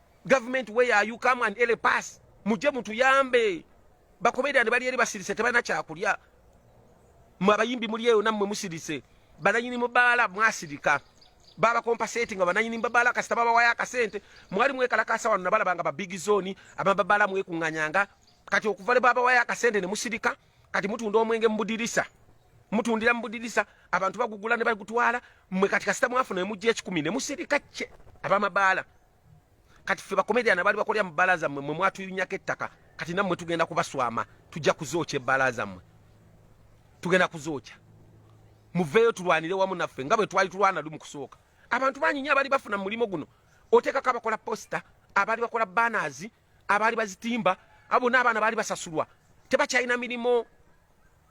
government where are you come and ele pass muje mutuyambe bakomedian bali eri basirise tebana kyakulya mwe abayimbi muli eyo namwe musirise bananyini mubaala mwasirika baba compensate nga bananyini mubaala kasita baba waya kasente mwali mwekala kasa wano nabala banga ba big zone ababa bala mwe kunganyanga kati okuvale baba waya kasente ne musirika kati mutunda omwenge mubudirisa mutundira mubudirisa abantu bagugula ne bagutwala mwe kati kasita mwafuna emujje ekikumi ne musirika kye abama baala kati ffe bakomedian abaali bakolera mu bbaala zammwe mwe mwatuyunyako ettaka kati nammwe tugenda kubaswama tujja kuzookya ebbaala zammwe tugenda kuzookya muveeyo tulwanire wamu naffe nga bwe twali tulwana lu mu kusooka abantu banyinya abaali bafuna mu mulimu guno oteekako abakola posita abaali bakola banaazi abaali bazitimba abo bonna abaana baali basasulwa tebakyalina mirimu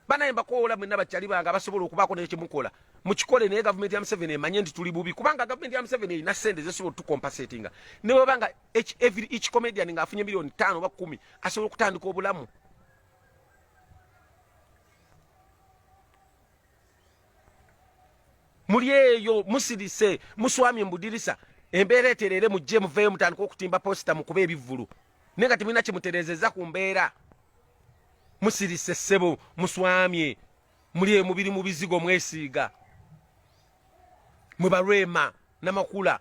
banaye mbakoola mwenna bakyali bange abasobola okubaako naye kyemukola mukikole naye gavumenti ya museveni emanye nti tuli bubi kubanga gavumenti ya museveni erina sente zesobola otukompasetinga neweba nga every each comedian nga afunye miliyoni tano oba kumi asobola okutandika obulamu muli eyo musirise muswamye mubudirisa embeera etereere mujje muveeyo mutandika okutimba posita mukuba ebivvulu naye nga temulina kyemutereezeza ku mbeera musirise ssebo muswamye muli eyo mubiri mu bizigo mwesiiga mwe balwema namakula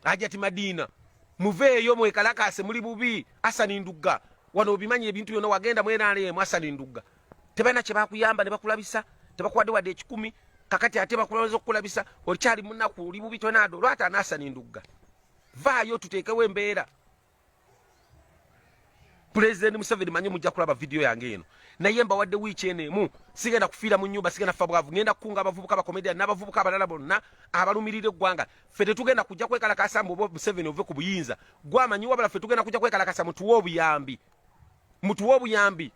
ajati madina muveeyo mwekalakaase muli bubi asani ndugga wano obimanyi ebintu byona wagenda mwenaleemu asani ndugga tebalina kyebakuyamba nebakulabisa tebakuwadde wadde ekikumi kakati ate bakulowooza okukulabisa okyali munaku oli bubi tonaada olwata anaasani ndugga vaayo tuteekewo embeera President Museveni manyi mujja kulaba video yange eno naye mbawadde wiiki eno emu sigenda kufiira mu nyumba sigenda kufa bwavu ngenda kukunga abavubuka bakomedian n'abavubuka abalala bonna abalumirira eggwanga ffe tetugenda kujja kwekalakasa mbu oba Museveni ove ku buyinza gwamanyi wabula ffe tugenda kujja kwekalakasa mutuwe obuyambi mutuwe obuyambi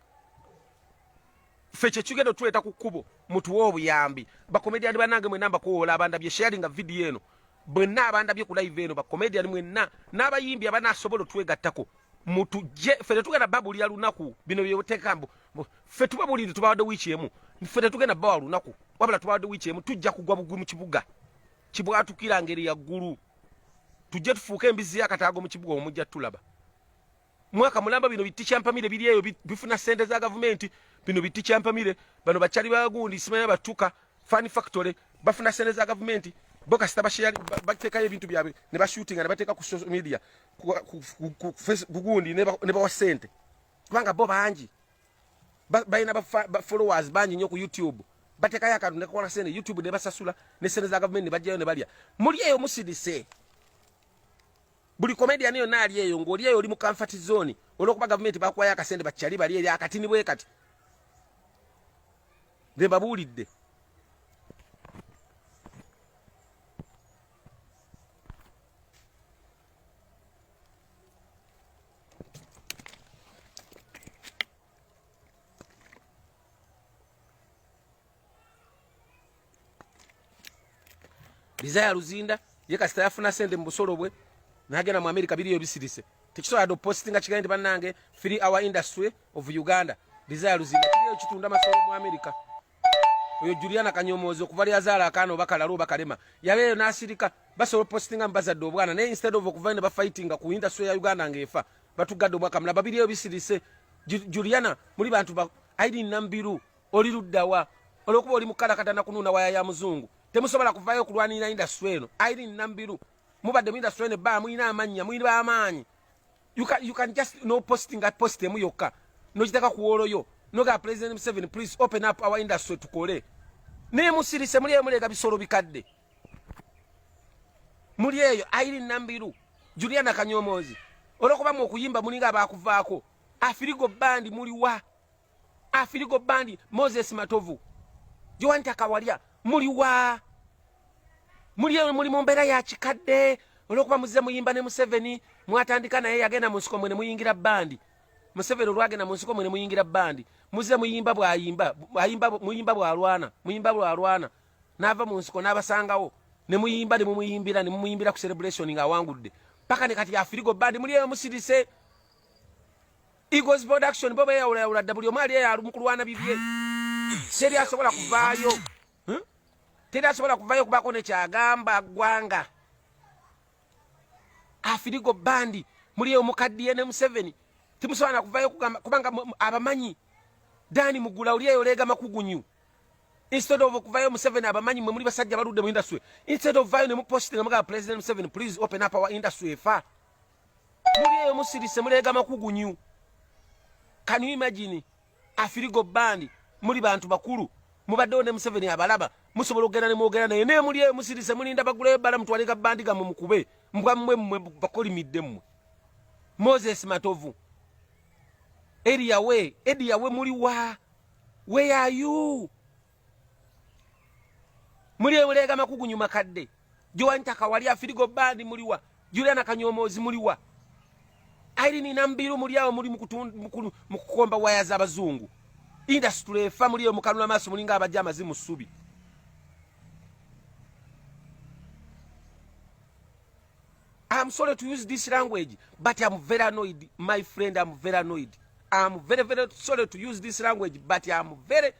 ffe kyekigenda otuleeta ku kkubo mutuwe obuyambi bakomedian banange mwena mbakuwola abandabye sharinga video eno Bwenna abandabye ku live eno ba comedian mwenna n'abayimbi abanasobola otwegattako mutujje ffe tetugenda babulira lunaku bino byebuteka mbu ffe tubabulire tubawadde wiiki emu ffe tetugenda bawa lunaku wabula tubawadde wiiki emu tujja kugwa bugwi mu kibuga kibwatukira ngeri yaggulu tujje tufuuke embizzi yakataago mu kibuga omujja tulaba mwaka mulamba bino bitti kyampamire biri eyo bifuna sente za gavumenti bino bitti kyampamire bano bakyali bagundi simanya batuka fan factory bafuna sente za gavumenti bo kasita basheyali bateekayo ebintu byabwe ne bashutinga ne bateeka ku social media kugundi ne bawa sente kubanga bo bangi balina bafollowers bangi nnyo ku youtube bateekayo akantu nekakola sente youtube ne basasula ne sente za gavumenti ne bajjayo ne balya muli eyo musidise buli comedian yonna ali eyo ng'oli eyo oli mu comfort zone olw'okuba gavumenti bakuwayo akasente bakyali bali eri akatini bwe kati be babuulidde Desire Luzinda ye kasita yafuna sente mu busolo bwe nagenda mu America biriyo bisirise tekisobola do posting nga kigende banange free our industry of Uganda Desire Luzinda kiriyo kitunda masolo mu America oyo Juliana Kanyomozi okuva lya zala akano bakala ro bakalema yabeyo nasirika basolo posting ambaza do bwana ne instead of okuva ne ba fighting ku industry ya Uganda ngefa batugadde obwaka mulaba biriyo bisirise Juliana muli bantu ba aidi nambiru oli luddawa olwokuba oli mukalakata nakunuuna waya ya muzungu temusobola kuvayo okulwanirira indasitry eno airi nambiru mubadde mu indasitry eno ebbaa mulina amannya muli bamaanyi you can just no posting at post emu yokka nokiteka kuwooloyo nogaa president museven please open up our industry tukole naye musirise muli eyo muleega bisolo bikadde muli eyo airi nambiru juliana kanyomoozi olwokuba mu okuyimba mulinga abakuvaako afirigo bandi muliwa afirigo bandi moses matovu jowanta kawalya muli wa muli muli mu mbeera ya kikadde olwokuba muzize muyimba ne museveni mwatandika naye yagenda mu nsiko mwe ne muyingira bandi museveni olwagenda mu nsiko mwe ne muyingira bandi muzize muyimba bwayimba muyimba bwalwana muyimba bwalwana n'ava mu nsiko n'abasangawo ne muyimba ne mumuyimbira ne mumuyimbira ku celebration ng'awangudde paka ne kati afirigo bandi muli eyo musirise Eagles production bo beyawula yawula dda buli omu ali eyalu mu kulwana bibye teri asobola kuvaayo hmm? teri asobola kuvaayo okubaako nekyagamba ggwanga afirigo bandi muli eyo mukaddiye ne museveni timusobola nakuvaayo kugamba kubanga abamanyi dani mugula oli eyo leega makugunyu instead of okuvayo museveni abamanyi mwe muli basajja baludde mu industry instead of vayo ne mupositi nga mugamba president museveni please open up our industry efa muli eyo musirise muleega makugunyu can you imagine afirigo bandi muli bantu bakulu mubaddewo ne museveni abalaba musobola okugenda nemwogera naye naye muli eyo musirise mulinda bagulayo bala mutwaleka bandi gamwe mukube mbwa mmwe mmwe bakolimidde mmwe moses matovu eriyawe ediyawe muli wa where are you muli ebuleega makugunyu makadde jowantaka wali afirigo bandi muliwa juliana kanyomoozi muliwa airini nambiru muli awo muli mukukomba waya zabazungu indasitule efa muli eyo mukanula maaso mulinga abajja amazi mu ssubi I'm sorry to use this language, but I'm very annoyed, my friend. I'm very annoyed. I'm very, very sorry to use this language, but I'm very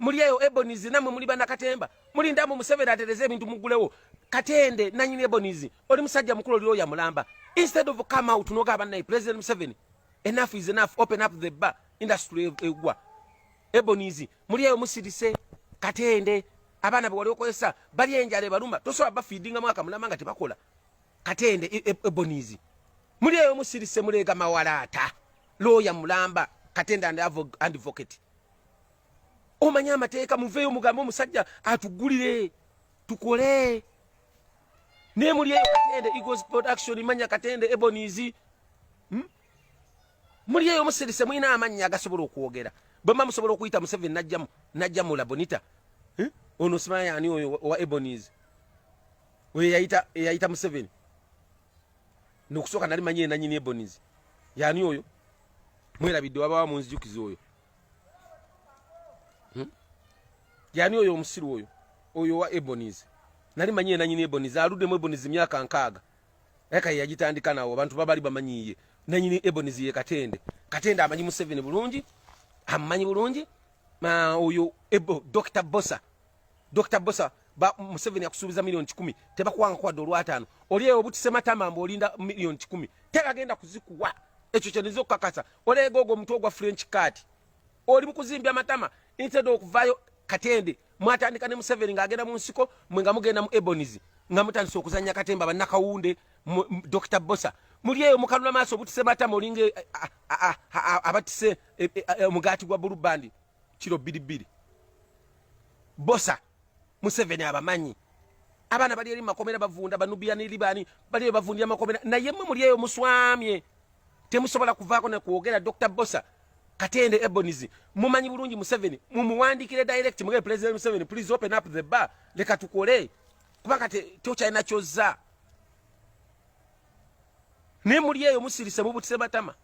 muli eyo ebonizi namwe muli banakatemba mulindamu museveni atereze ebintu mugulewo katende nanyini ebonizi oli musajja mukulu oli oya mulamba instead of come out noga abanaye president museveni enough is enough open up the bar industry e-, egwa ebonizi muli eyo musirise katende abaana bewali okozesa bali enjala ebaluma tosobola bafiidingamu akamulama nga tebakola katende e-, e-, ebonizi muli eyo musirise muleega mawalaata looya mulamba katende and advocate omanya amateeka muveeyo mugambe omusajja atugulire tukole naye muli eyo katende eagles production manya katende ebonies hmm? muli eyo musirise mulina amannya agasobola okwogera bwemba musobola okuyita museveni najjamu najjamu labonita hmm? ono simanya ani oyo wa ebonies oyo eyayita eyayita museveni nokusooka nali manyi enanyini ebonies yani oyo mwerabidde wabawa munzijukiza oyo hmm? yani oyo omusiru oyo oyo wa ebonies nali manyi enanyini ebonies aludemu ebonies myaka nkaaga eka yagitandika nawo abantu babali bamanyiye nanyini ebonies ye katende katende amanyi museveni bulungi amanyi bulungi oyo ebo dr bosa Dr. Bosa ba Museveni akusubiza milioni 10 tebakuwanga kwa dola 5 oli eyo butise matama mbo olinda milioni 10 tegagenda kuzikuwa ekyo kyanizo kakasa ole gogo mtu ogwa French card oli mukuzimbya matama instead okuvayo katende mwatandika ne Museveni ngagenda mu nsiko mwe nga mugenda mu Ebonies nga mutandise okuzanya katemba banakawunde Dr. Bosa muli eyo mukanula maso butise matama olinge abatise e, e, e, omugati gwa bulubandi kiro bbiri bbiri bosa museveni abamanyi abaana bali eri makomera bavunda banubia ni libani bali bavundira makomera naye mwe muli eyo muswamye temusobola kuvaako ne kwogera dr bosa katende ebonizi mumanyi bulungi museveni mumuwandikire direct mugee president museveni please open up the bar leka tukole kubanga tokyalina kyozza naye muli eyo musirise mubutise batama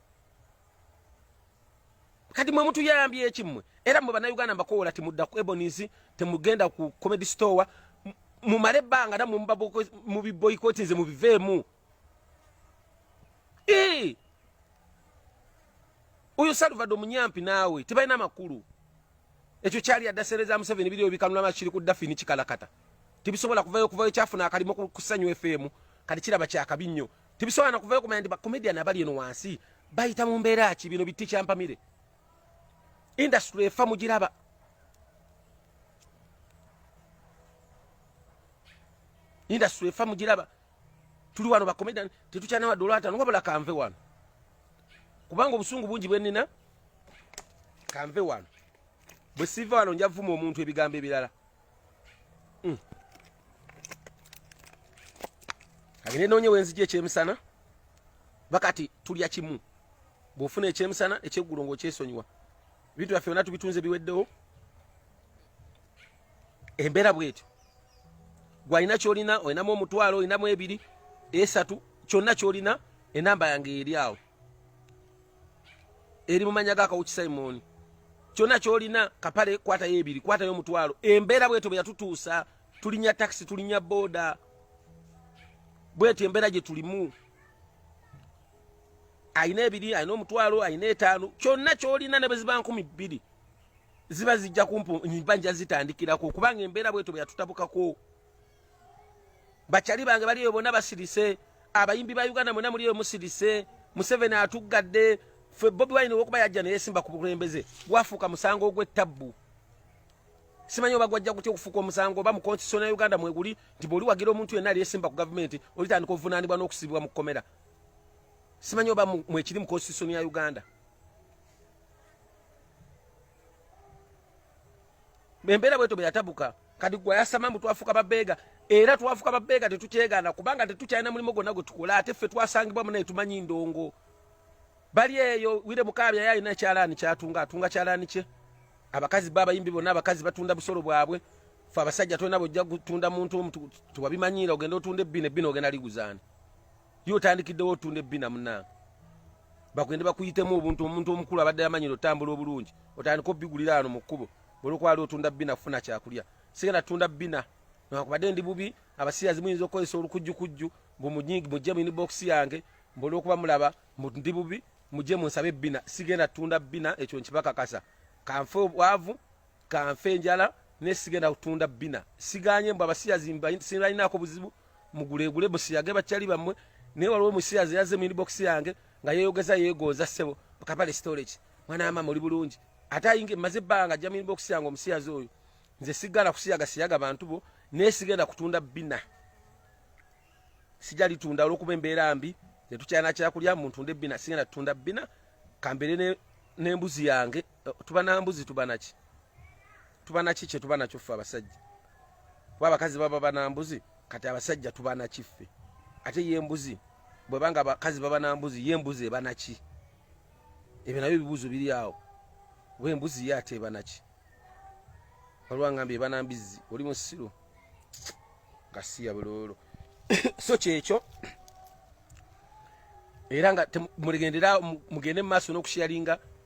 kati mwe mutuyambye ekimwe era mwe bannayuganda mbakowola timudda ku ebonies temugenda ku comedy store mumale ebbanga namwe mubiboyikoti nze mubiveemu oyo salvado munyampi naawe tebalina makulu ekyo kyali adasereza museveni biriyo bikanulama kiri ku dafini kikalakata tibisobola kuvayo kuvayo kyafuna akalimu kusanywa efeemu kati kiraba kyakabi nnyo tibisobola nakuvayo kumanya nti bacomedian abali eno wansi bayita mu mbeera ki bino bitti kyampamire industry efa mugiraba industry efa mugiraba tuli wano bacomedian tetukyanawadde olwatano wabula kanve wano kubanga obusungu bungi bwenina kanve wano bwe siva wano nja vuma omuntu ebigambo ebirala hmm. agende noonye wenzija ekyemisana bakati tulya kimu bwofuna ekyemisana ekyeggulo ngaokyesonyiwa ebintu byaffe byona tubitunze biweddewo embeera bwetyo gwalina kyolina olinamu omutwalo olinamu ebiri esatu kyonna kyolina enamba yange eri awo eri mu mannya ga kawuki simoni kyonna kyolina kapale kwatayo ebiri kwatayo omutwalo embeera bwetyo bwe yatutuusa tulinya takisi tulinya booda bwetyo embeera gye tulimu alina ebiri alina omutwalo alina etaano kyonna kyolina ne bwe ziba nkumi bbiri ziba zijja kumpu mba nja zitandikirako kubanga embeera bwetyo bwe yatutabukako bakyali bange bali eyo bonna basirise abayimbi ba uganda mwena muli eyo musirise museveni atuggadde fe bobi wine wokuba yajja neyesimba ku bukulembeze gwafuuka musango ogw'ettabbu simanyi oba gwajja kutya okufuuka omusango oba mu konstitution ya uganda mweguli nti bwoli wagira omuntu yenna aliyesimba ku gavumenti olitandika obuvunaanibwa n'okusibibwa mu kkomera simanyi oba mwekiri mu konstitution ya uganda embeera bweto bwe yatabuka kati gwe yasama mbu twafuuka babeega era twafuuka babeega tetukyegaana kubanga tetukyalina mulimu gwonna gwe tukola ate ffe twasangibwamu naye tumanyi ndongo bali eyo wire mukaabya ye alina ekyalaani kyatunga atunga kyalaani kye abakazi be abayimbi bonna abakazi batunda busolo bwabwe fe abasajja tolina bwojja kutunda muntu omu tewabimanyiira ogenda otunda ebbina ebbina ogenda liguzaani yo otandikiddewo otunda ebbina munange bagende bakuyitemu obuntu omuntu omukulu abadde yamanyira otambula obulungi otandika obigulira ano mu kkubo olwokubaali otunda bbina kufuna kyakulya sigenda tunda bbina nakubadde ndi bubi abasiyazi muyinza okukozesa olukujjukujju mujje muyini bokisi yange mbolwokuba mulaba ndi bubi mujje munsabe ebbina sigenda tunda bbina ekyo nkibakakasa kanfe obwavu kanfe enjala naye sigenda kutunda bina siganye mbu abasiyazi sinalinaako buzibu mugulegule musiyage bakyali bammwe naye waliwo musiyazi yaze mu inbox yange nga yeyogeza yegonza ssebo kapale storage mwana wa mama oli bulungi ate ayinge maze ebbanga ajja mu inbox yange omusiyazi oyo nze sigala kusiyaga siyaga bantu bo naye sigenda kutunda bina sija litunda olwokuba embeera mbi netukyana kyakulya muntu nde bina sigenda tutunda bina kambere n'embuzi yange eh, tuba na mbuzi tuba naki tuba naki kye tuba nakyo ffe abasajja kuba abakazi baba bana mbuzi kati abasajja tuba naki ffe ate ye mbuzi bwebanga abakazi baba na mbuzi ye mbuzi eba naki ebyo nabyo ebibuuzo biri awo we mbuzi ye ate eba naki waliwo angamba eba na mbizzi oli musiru gasiya buloolo so kyekyo era nga mulegendera mugende mu maaso n'okusharinga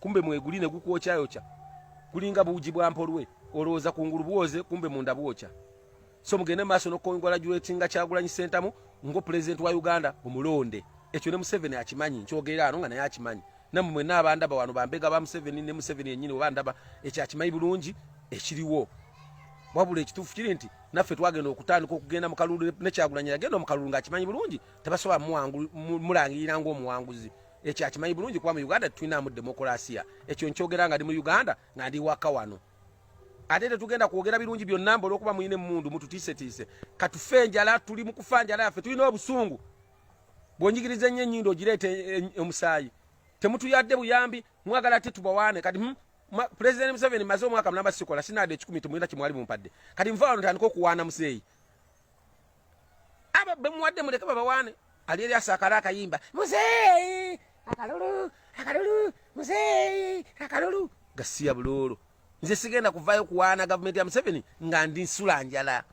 kumbe mweguli ne gukwokyayokya kulinga buugi bwa mpolwe olowooza kungulu bwoze kumbe munda bwokya so mugende maaso nokukongola juletinga kyagulanyi sentamu ngo pulezidenti wa uganda omulonde ekyo ne museveni akimanyi nkyogera ano nga naye akimanyi namwe mwena abandaba wano bambega ba museveni ne museveni yenyini oba ndaba ekyo akimanyi bulungi ekiriwo wabula ekituufu kiri nti naffe twagenda okutandika okugenda mukalulu nekyagulanyi yagenda omukalulu nga akimanyi bulungi tebasobola mulangirira ngaomuwanguzi ekyo akimanyi bulungi kuba mu uganda tetulinamu demokulasiya ekyo nkyogera nga ndi mu uganda nga ndi waka wano ate tetugenda kwogera birungi byonna mba olwokuba mulina emundu mututiisetiise katufe enjala tuli mukufa njala yaffe tulina obusungu bwonjigiriza ennyo enyindo ogireeta e, e, e, omusaayi temutuyadde buyambi mwagala ate tubawaane kati hmm, pulezidenti museveni maze omwaka mulamba sikola sinaada ekikumi temulina kyemwali mumpadde kati nva wano tandika okuwaana muzeeyi aba bemuwadde muleke babawaane ali eri asakala akayimba muzeeyi akalulu akalulu muzeeyi akalulu gasiya buloolo nze sigenda kuvaayo kuwaana gavumenti ya museveni nga ndi nsula njala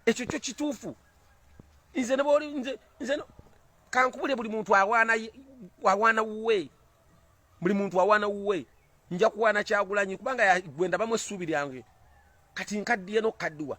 ekyo kyo kituufu nze nebwoli nze nze kankubule buli muntu awaana awaana wuwe buli muntu awaana wuwe nja kuwaana kyagulanyi kubanga gwendabamu essuubi lyange kati nkaddiye nokukaddiwa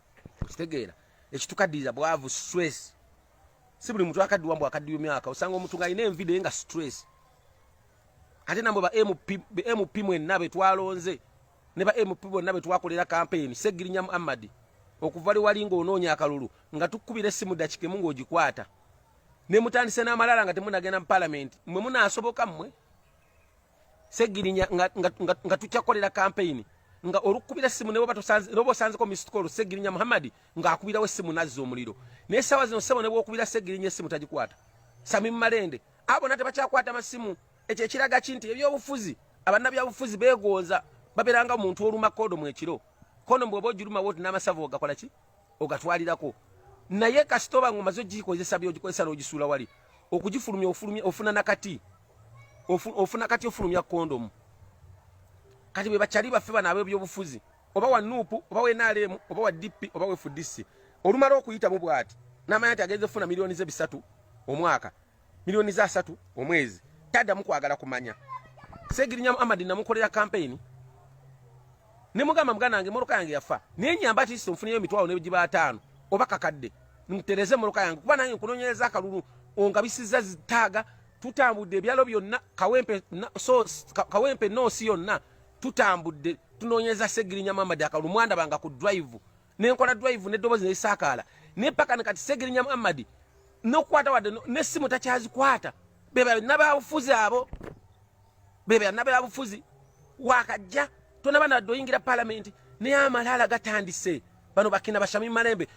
okitegeera ekitukaddiza bwavu stress si buli muntu akaddiwa mbu akaddiwa emyaka osanga omuntu nga alina envide nga stress ate namwe ba mp mwenna be twalonze ne ba mp bonna be twakolera kampeyini segirinya muhammadi okuva liwali ng'onoonya akalulu nga tukubira essimu dakika emu ng'ogikwata ne mutandise n'amalala nga temunagenda mu palamenti mwe munaasoboka mmwe segirinya nga, nga, nga, nga tukyakolera kampeyini nga olukubira essimu neboba osanzeko mistkol segirinya muhammadi ng'akubirawo essimu nazza omuliro naye saawa zino sebo nebwokubira segirinya essimu tagikwata sami mumalende abo nate bakyakwata masimu ekyo ekiraga ki nti ebyobufuzi abannabyabufuzi beegonza babeeranga omuntu olumakoodo mu ekiro kono mbwoba ogirumawo ti n'amasavu ogakola ki ogatwalirako naye kasita oba nga omaze ogikozesa byogikozesa n'ogisuula wali okugifulumya ofulumya ofuna nakati ofuna kati ofulumya kondomu kati bwe bakyali baffe bano ab'ebyobufuzi oba wa nuupu oba wa nrm oba wa dp oba wa fdc olumala okuyitamu bw'ati n'amanya nti agenze funa miliyoni ze bisatu omwaka milioni za asatu omwezi taddamu kwagala kumanya segirinya muhammad namukolera kampeyini ne mugamba muganda wange moroka yange yafa naye nyamba ati nfuniyo emitwalo nebigiba ataano oba kakadde ntereze moroka yange kuba nange nkunonyereza akalulu ongabisiza zitaaga tutambudde ebyalo byonna kawempe so kawempe noosi yonna tutambudde tunonyereza segirinya muhammad akalulu mwandabanga ku drive nenkola drive nedobozi neisakaala naye paka nekati segirinya muhammadi nokukwata wadde nesimu takyazikwata bebanabyabufuzi abo bebanabyabufuzi wakajja tonaba nadde oyingira palamenti naye amalaala gatandise bano bakina bashami malembe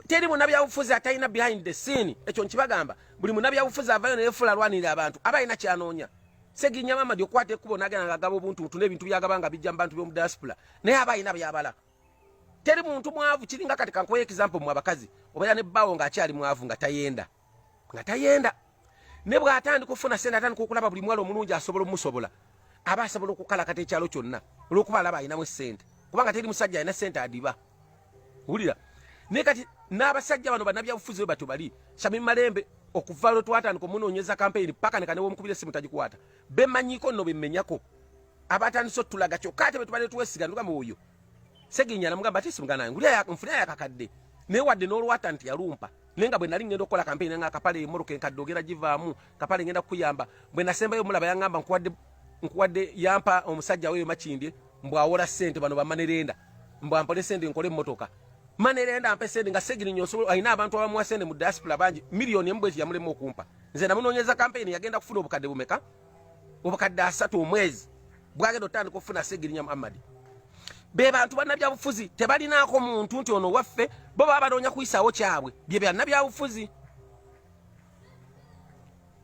teri munabyabufuzi atalina behind the scene ekyo nkibagamba buli munabyabufuzi avayo neyefula alwanirira abantu aba alina kyanoonya segirinya muhammadi okukwata ekkubo nagenda nga agaba obuntu butu nebintu byagaba nga bijja mu bantu byomu diaspora naye aba alina byabala teri muntu mwavu kiringa kati kankuwa example mu abakazi obeera ne bbaawo ng'akyali mwavu nga tayenda nga tayenda ne bw'atandika okufuna sente atandika okulaba buli mwala omulungi asobola omusobola aba asobola okukalakata ekyalo kyonna olw'okuba alaba alinamu esente kubanga teri musajja alina sente adiba wulira naye kati n'abasajja bano banabyabufuzi bwe batyo bali sami malembe okuva lwe twatandika omunoonyeza kampeyini paka nekanewoomukubira essimu tagikwata bemanyiko nno bemenyako abatandise otulaga kyokka ate betubadde twesiga nugamba oyo seginya namugamba ate simugana yange nfuna yakakadde naye wadde n'olwata nti yalumpa naye nga bwe nali ngenda okukola kampeyini nga akapale emoroka enkadde ogenda givaamu kapale ngenda kukuyamba bwe nasembayo omulaba yangamba nkuwadde nkuwadde yampa omusajja weyo makindye mbu awola sente bano bamanerenda mbu ampole sente nkole emmotoka manerenda mpe sente nga segirinya osobola alina abantu abamuwa sente mu diaspora bangi miliyoni emu bweki yamulema okumpa nze namunoonyeza kampeyini yagenda kufuna obukadde bumeka obukadde asatu omwezi bwagenda otandika okufuna segirinya muhammadi be bantu bannabyabufuzi tebalinaako muntu nti ono waffe bo baba banoonya kuyisaawo kyabwe bye byannabyabufuzi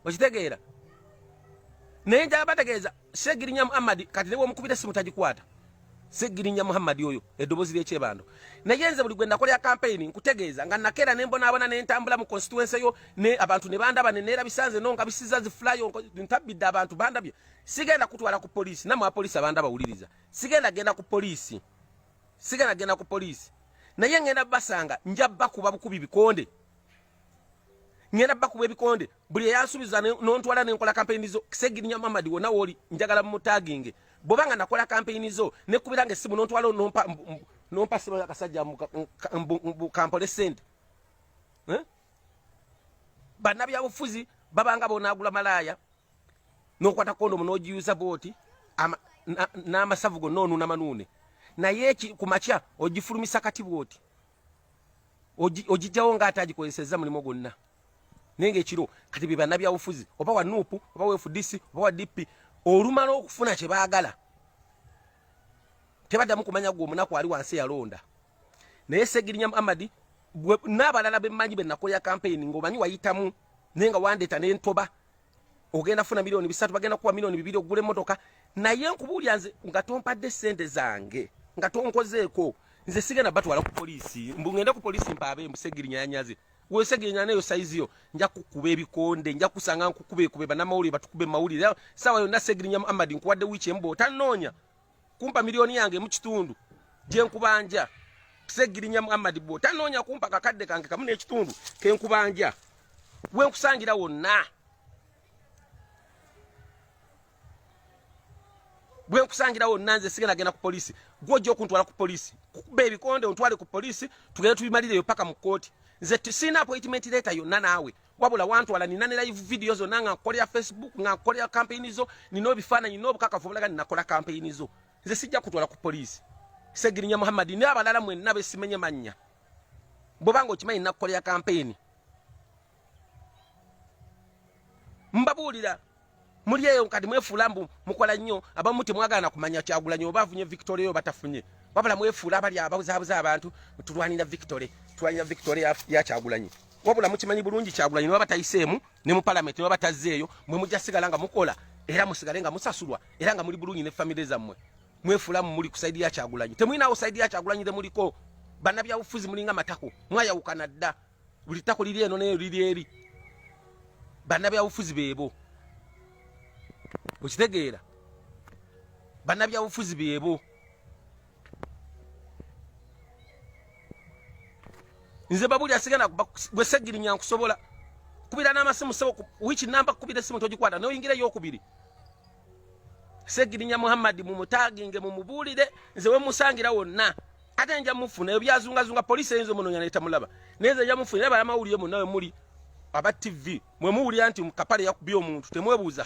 okitegeera naye njaba bategeeza segirinya muhammadi kati nebwomukubira simu tagikwata Segirinya Muhammad oyo edobozi lye kyebando naye nze buli gwe nakolera campaign nkutegeeza nga nakera ne mbona abana ne ntambula mu constituency yo ne abantu ne banda bane nera bisanze no nga bisiza zi fly on ntabidde abantu banda bye sigenda kutwala ku police na mu police abanda bawuliriza sigenda genda ku police sigenda genda ku police naye ngenda basanga njabba kuba bukubi bikonde ngenda bakuba ebikonde buli eyasubiza nontwala nenkola kampeyini zo kisegirinya mamadi wona woli njagala mumutaginge bwoba nga nakola kampeyini zo nekubira nga esimu nontwala nompa nompa simu yakasajja kampole sente eh? banabyabufuzi babanga bonagula malaaya nokwata kondomu nogiyuza bwoti n'amasavu gonna onuunamanuune naye ku makya ogifulumisa kati bwoti ogijjawo nga ate agikozesezza mulimu gwonna naye nga ekiro kati bye banabyabufuzi oba wa nup oba wa fdc oba wa dp olumala okufuna kye baagala tebaddamu kumanya gwe omunaku ali wansi yalonda naye segirinya muhammadi n'abalala bemmanyi be nakolera kampeyini ng'omanyi wayitamu naye nga wandeeta nentoba ogenda funa milioni bisatu bagenda kuwa milioni bibiri ogula emotoka naye nkubuulya nze nga tompadde sente zange nga tonkozeeko nze sigenda batwala ku polisi mbu ngende ku polisi mpaabe mbu segirinyanyaze wesegenya nayo saizi yo nja kukuba ebikonde nja kusanga nkukuba ekuba banamawulire batukube mawulire sawa yonna segirinya muhammad nkuwadde wiiki emu bw'otanoonya kumpa milioni yange emu kitundu gye nkubanja segirinya muhammad bwo tanoonya kumpa kakadde kange kamu n'ekitundu ke nkubanja we nkusangira wonna bwe nkusangira wonna nze sigenda genda ku poliisi gwe ojja okuntwala ku poliisi kukuba ebikonde ontwale ku poliisi tugende tubimalireyo paka mu kkooti nze sirina appointment leeta yonna naawe wabula wantwala nina ne live video zonna nga nkolera facebook nga nkolera kampeyini zo nina obifaananyi n'obukakafu obulaga ninakola kampeyini zo nze sijja kutwala ku poliisi segirinya muhammadi naye abalala mwenna besimenye mannya bwebanga okimanyi nakukolera kampeyini mbabuulira muli eyo kati mwefuula mbu mukola nnyo abamu temwagala nakumanya kyagulanyi oba afunye victoria oyo batafunye wabula mwefuula abali ababuzabuza abantu tulwanira victory tulwanira victory ya kyagulanyi wabula mukimanyi bulungi kyagulanyi newaba tayiseemu ne mu palamenti newaba tazzeeyo mwe mujja sigala nga mukola era musigale nga musasulwa era nga muli bulungi ne famire zammwe mwefuula mu muli ku saidi ya kyagulanyi temulinawo saidi ya kyagulanyi temuliko banabyabufuzi mulinga matako mwayawukana dda buli ttako liri eno neyo liri eri bannabyabufuzi beebo okitegeera bannabyabufuzi beebo nze babuli asigana gwesegirinya nkusobola kubira n'amasimu sebo wiiki namba kubira essimu togikwata noyingira eyokubiri segirinya muhammadi mumutaginge mumubuulire nze wemusangira wonna ate nja mufuna ebyo byazungazunga poliisi eyinza omunonya netamulaba naye nze nja mufuna era balamawulire munawe muli aba tv mwe muwulira nti kapale yakubye omuntu temwebuuza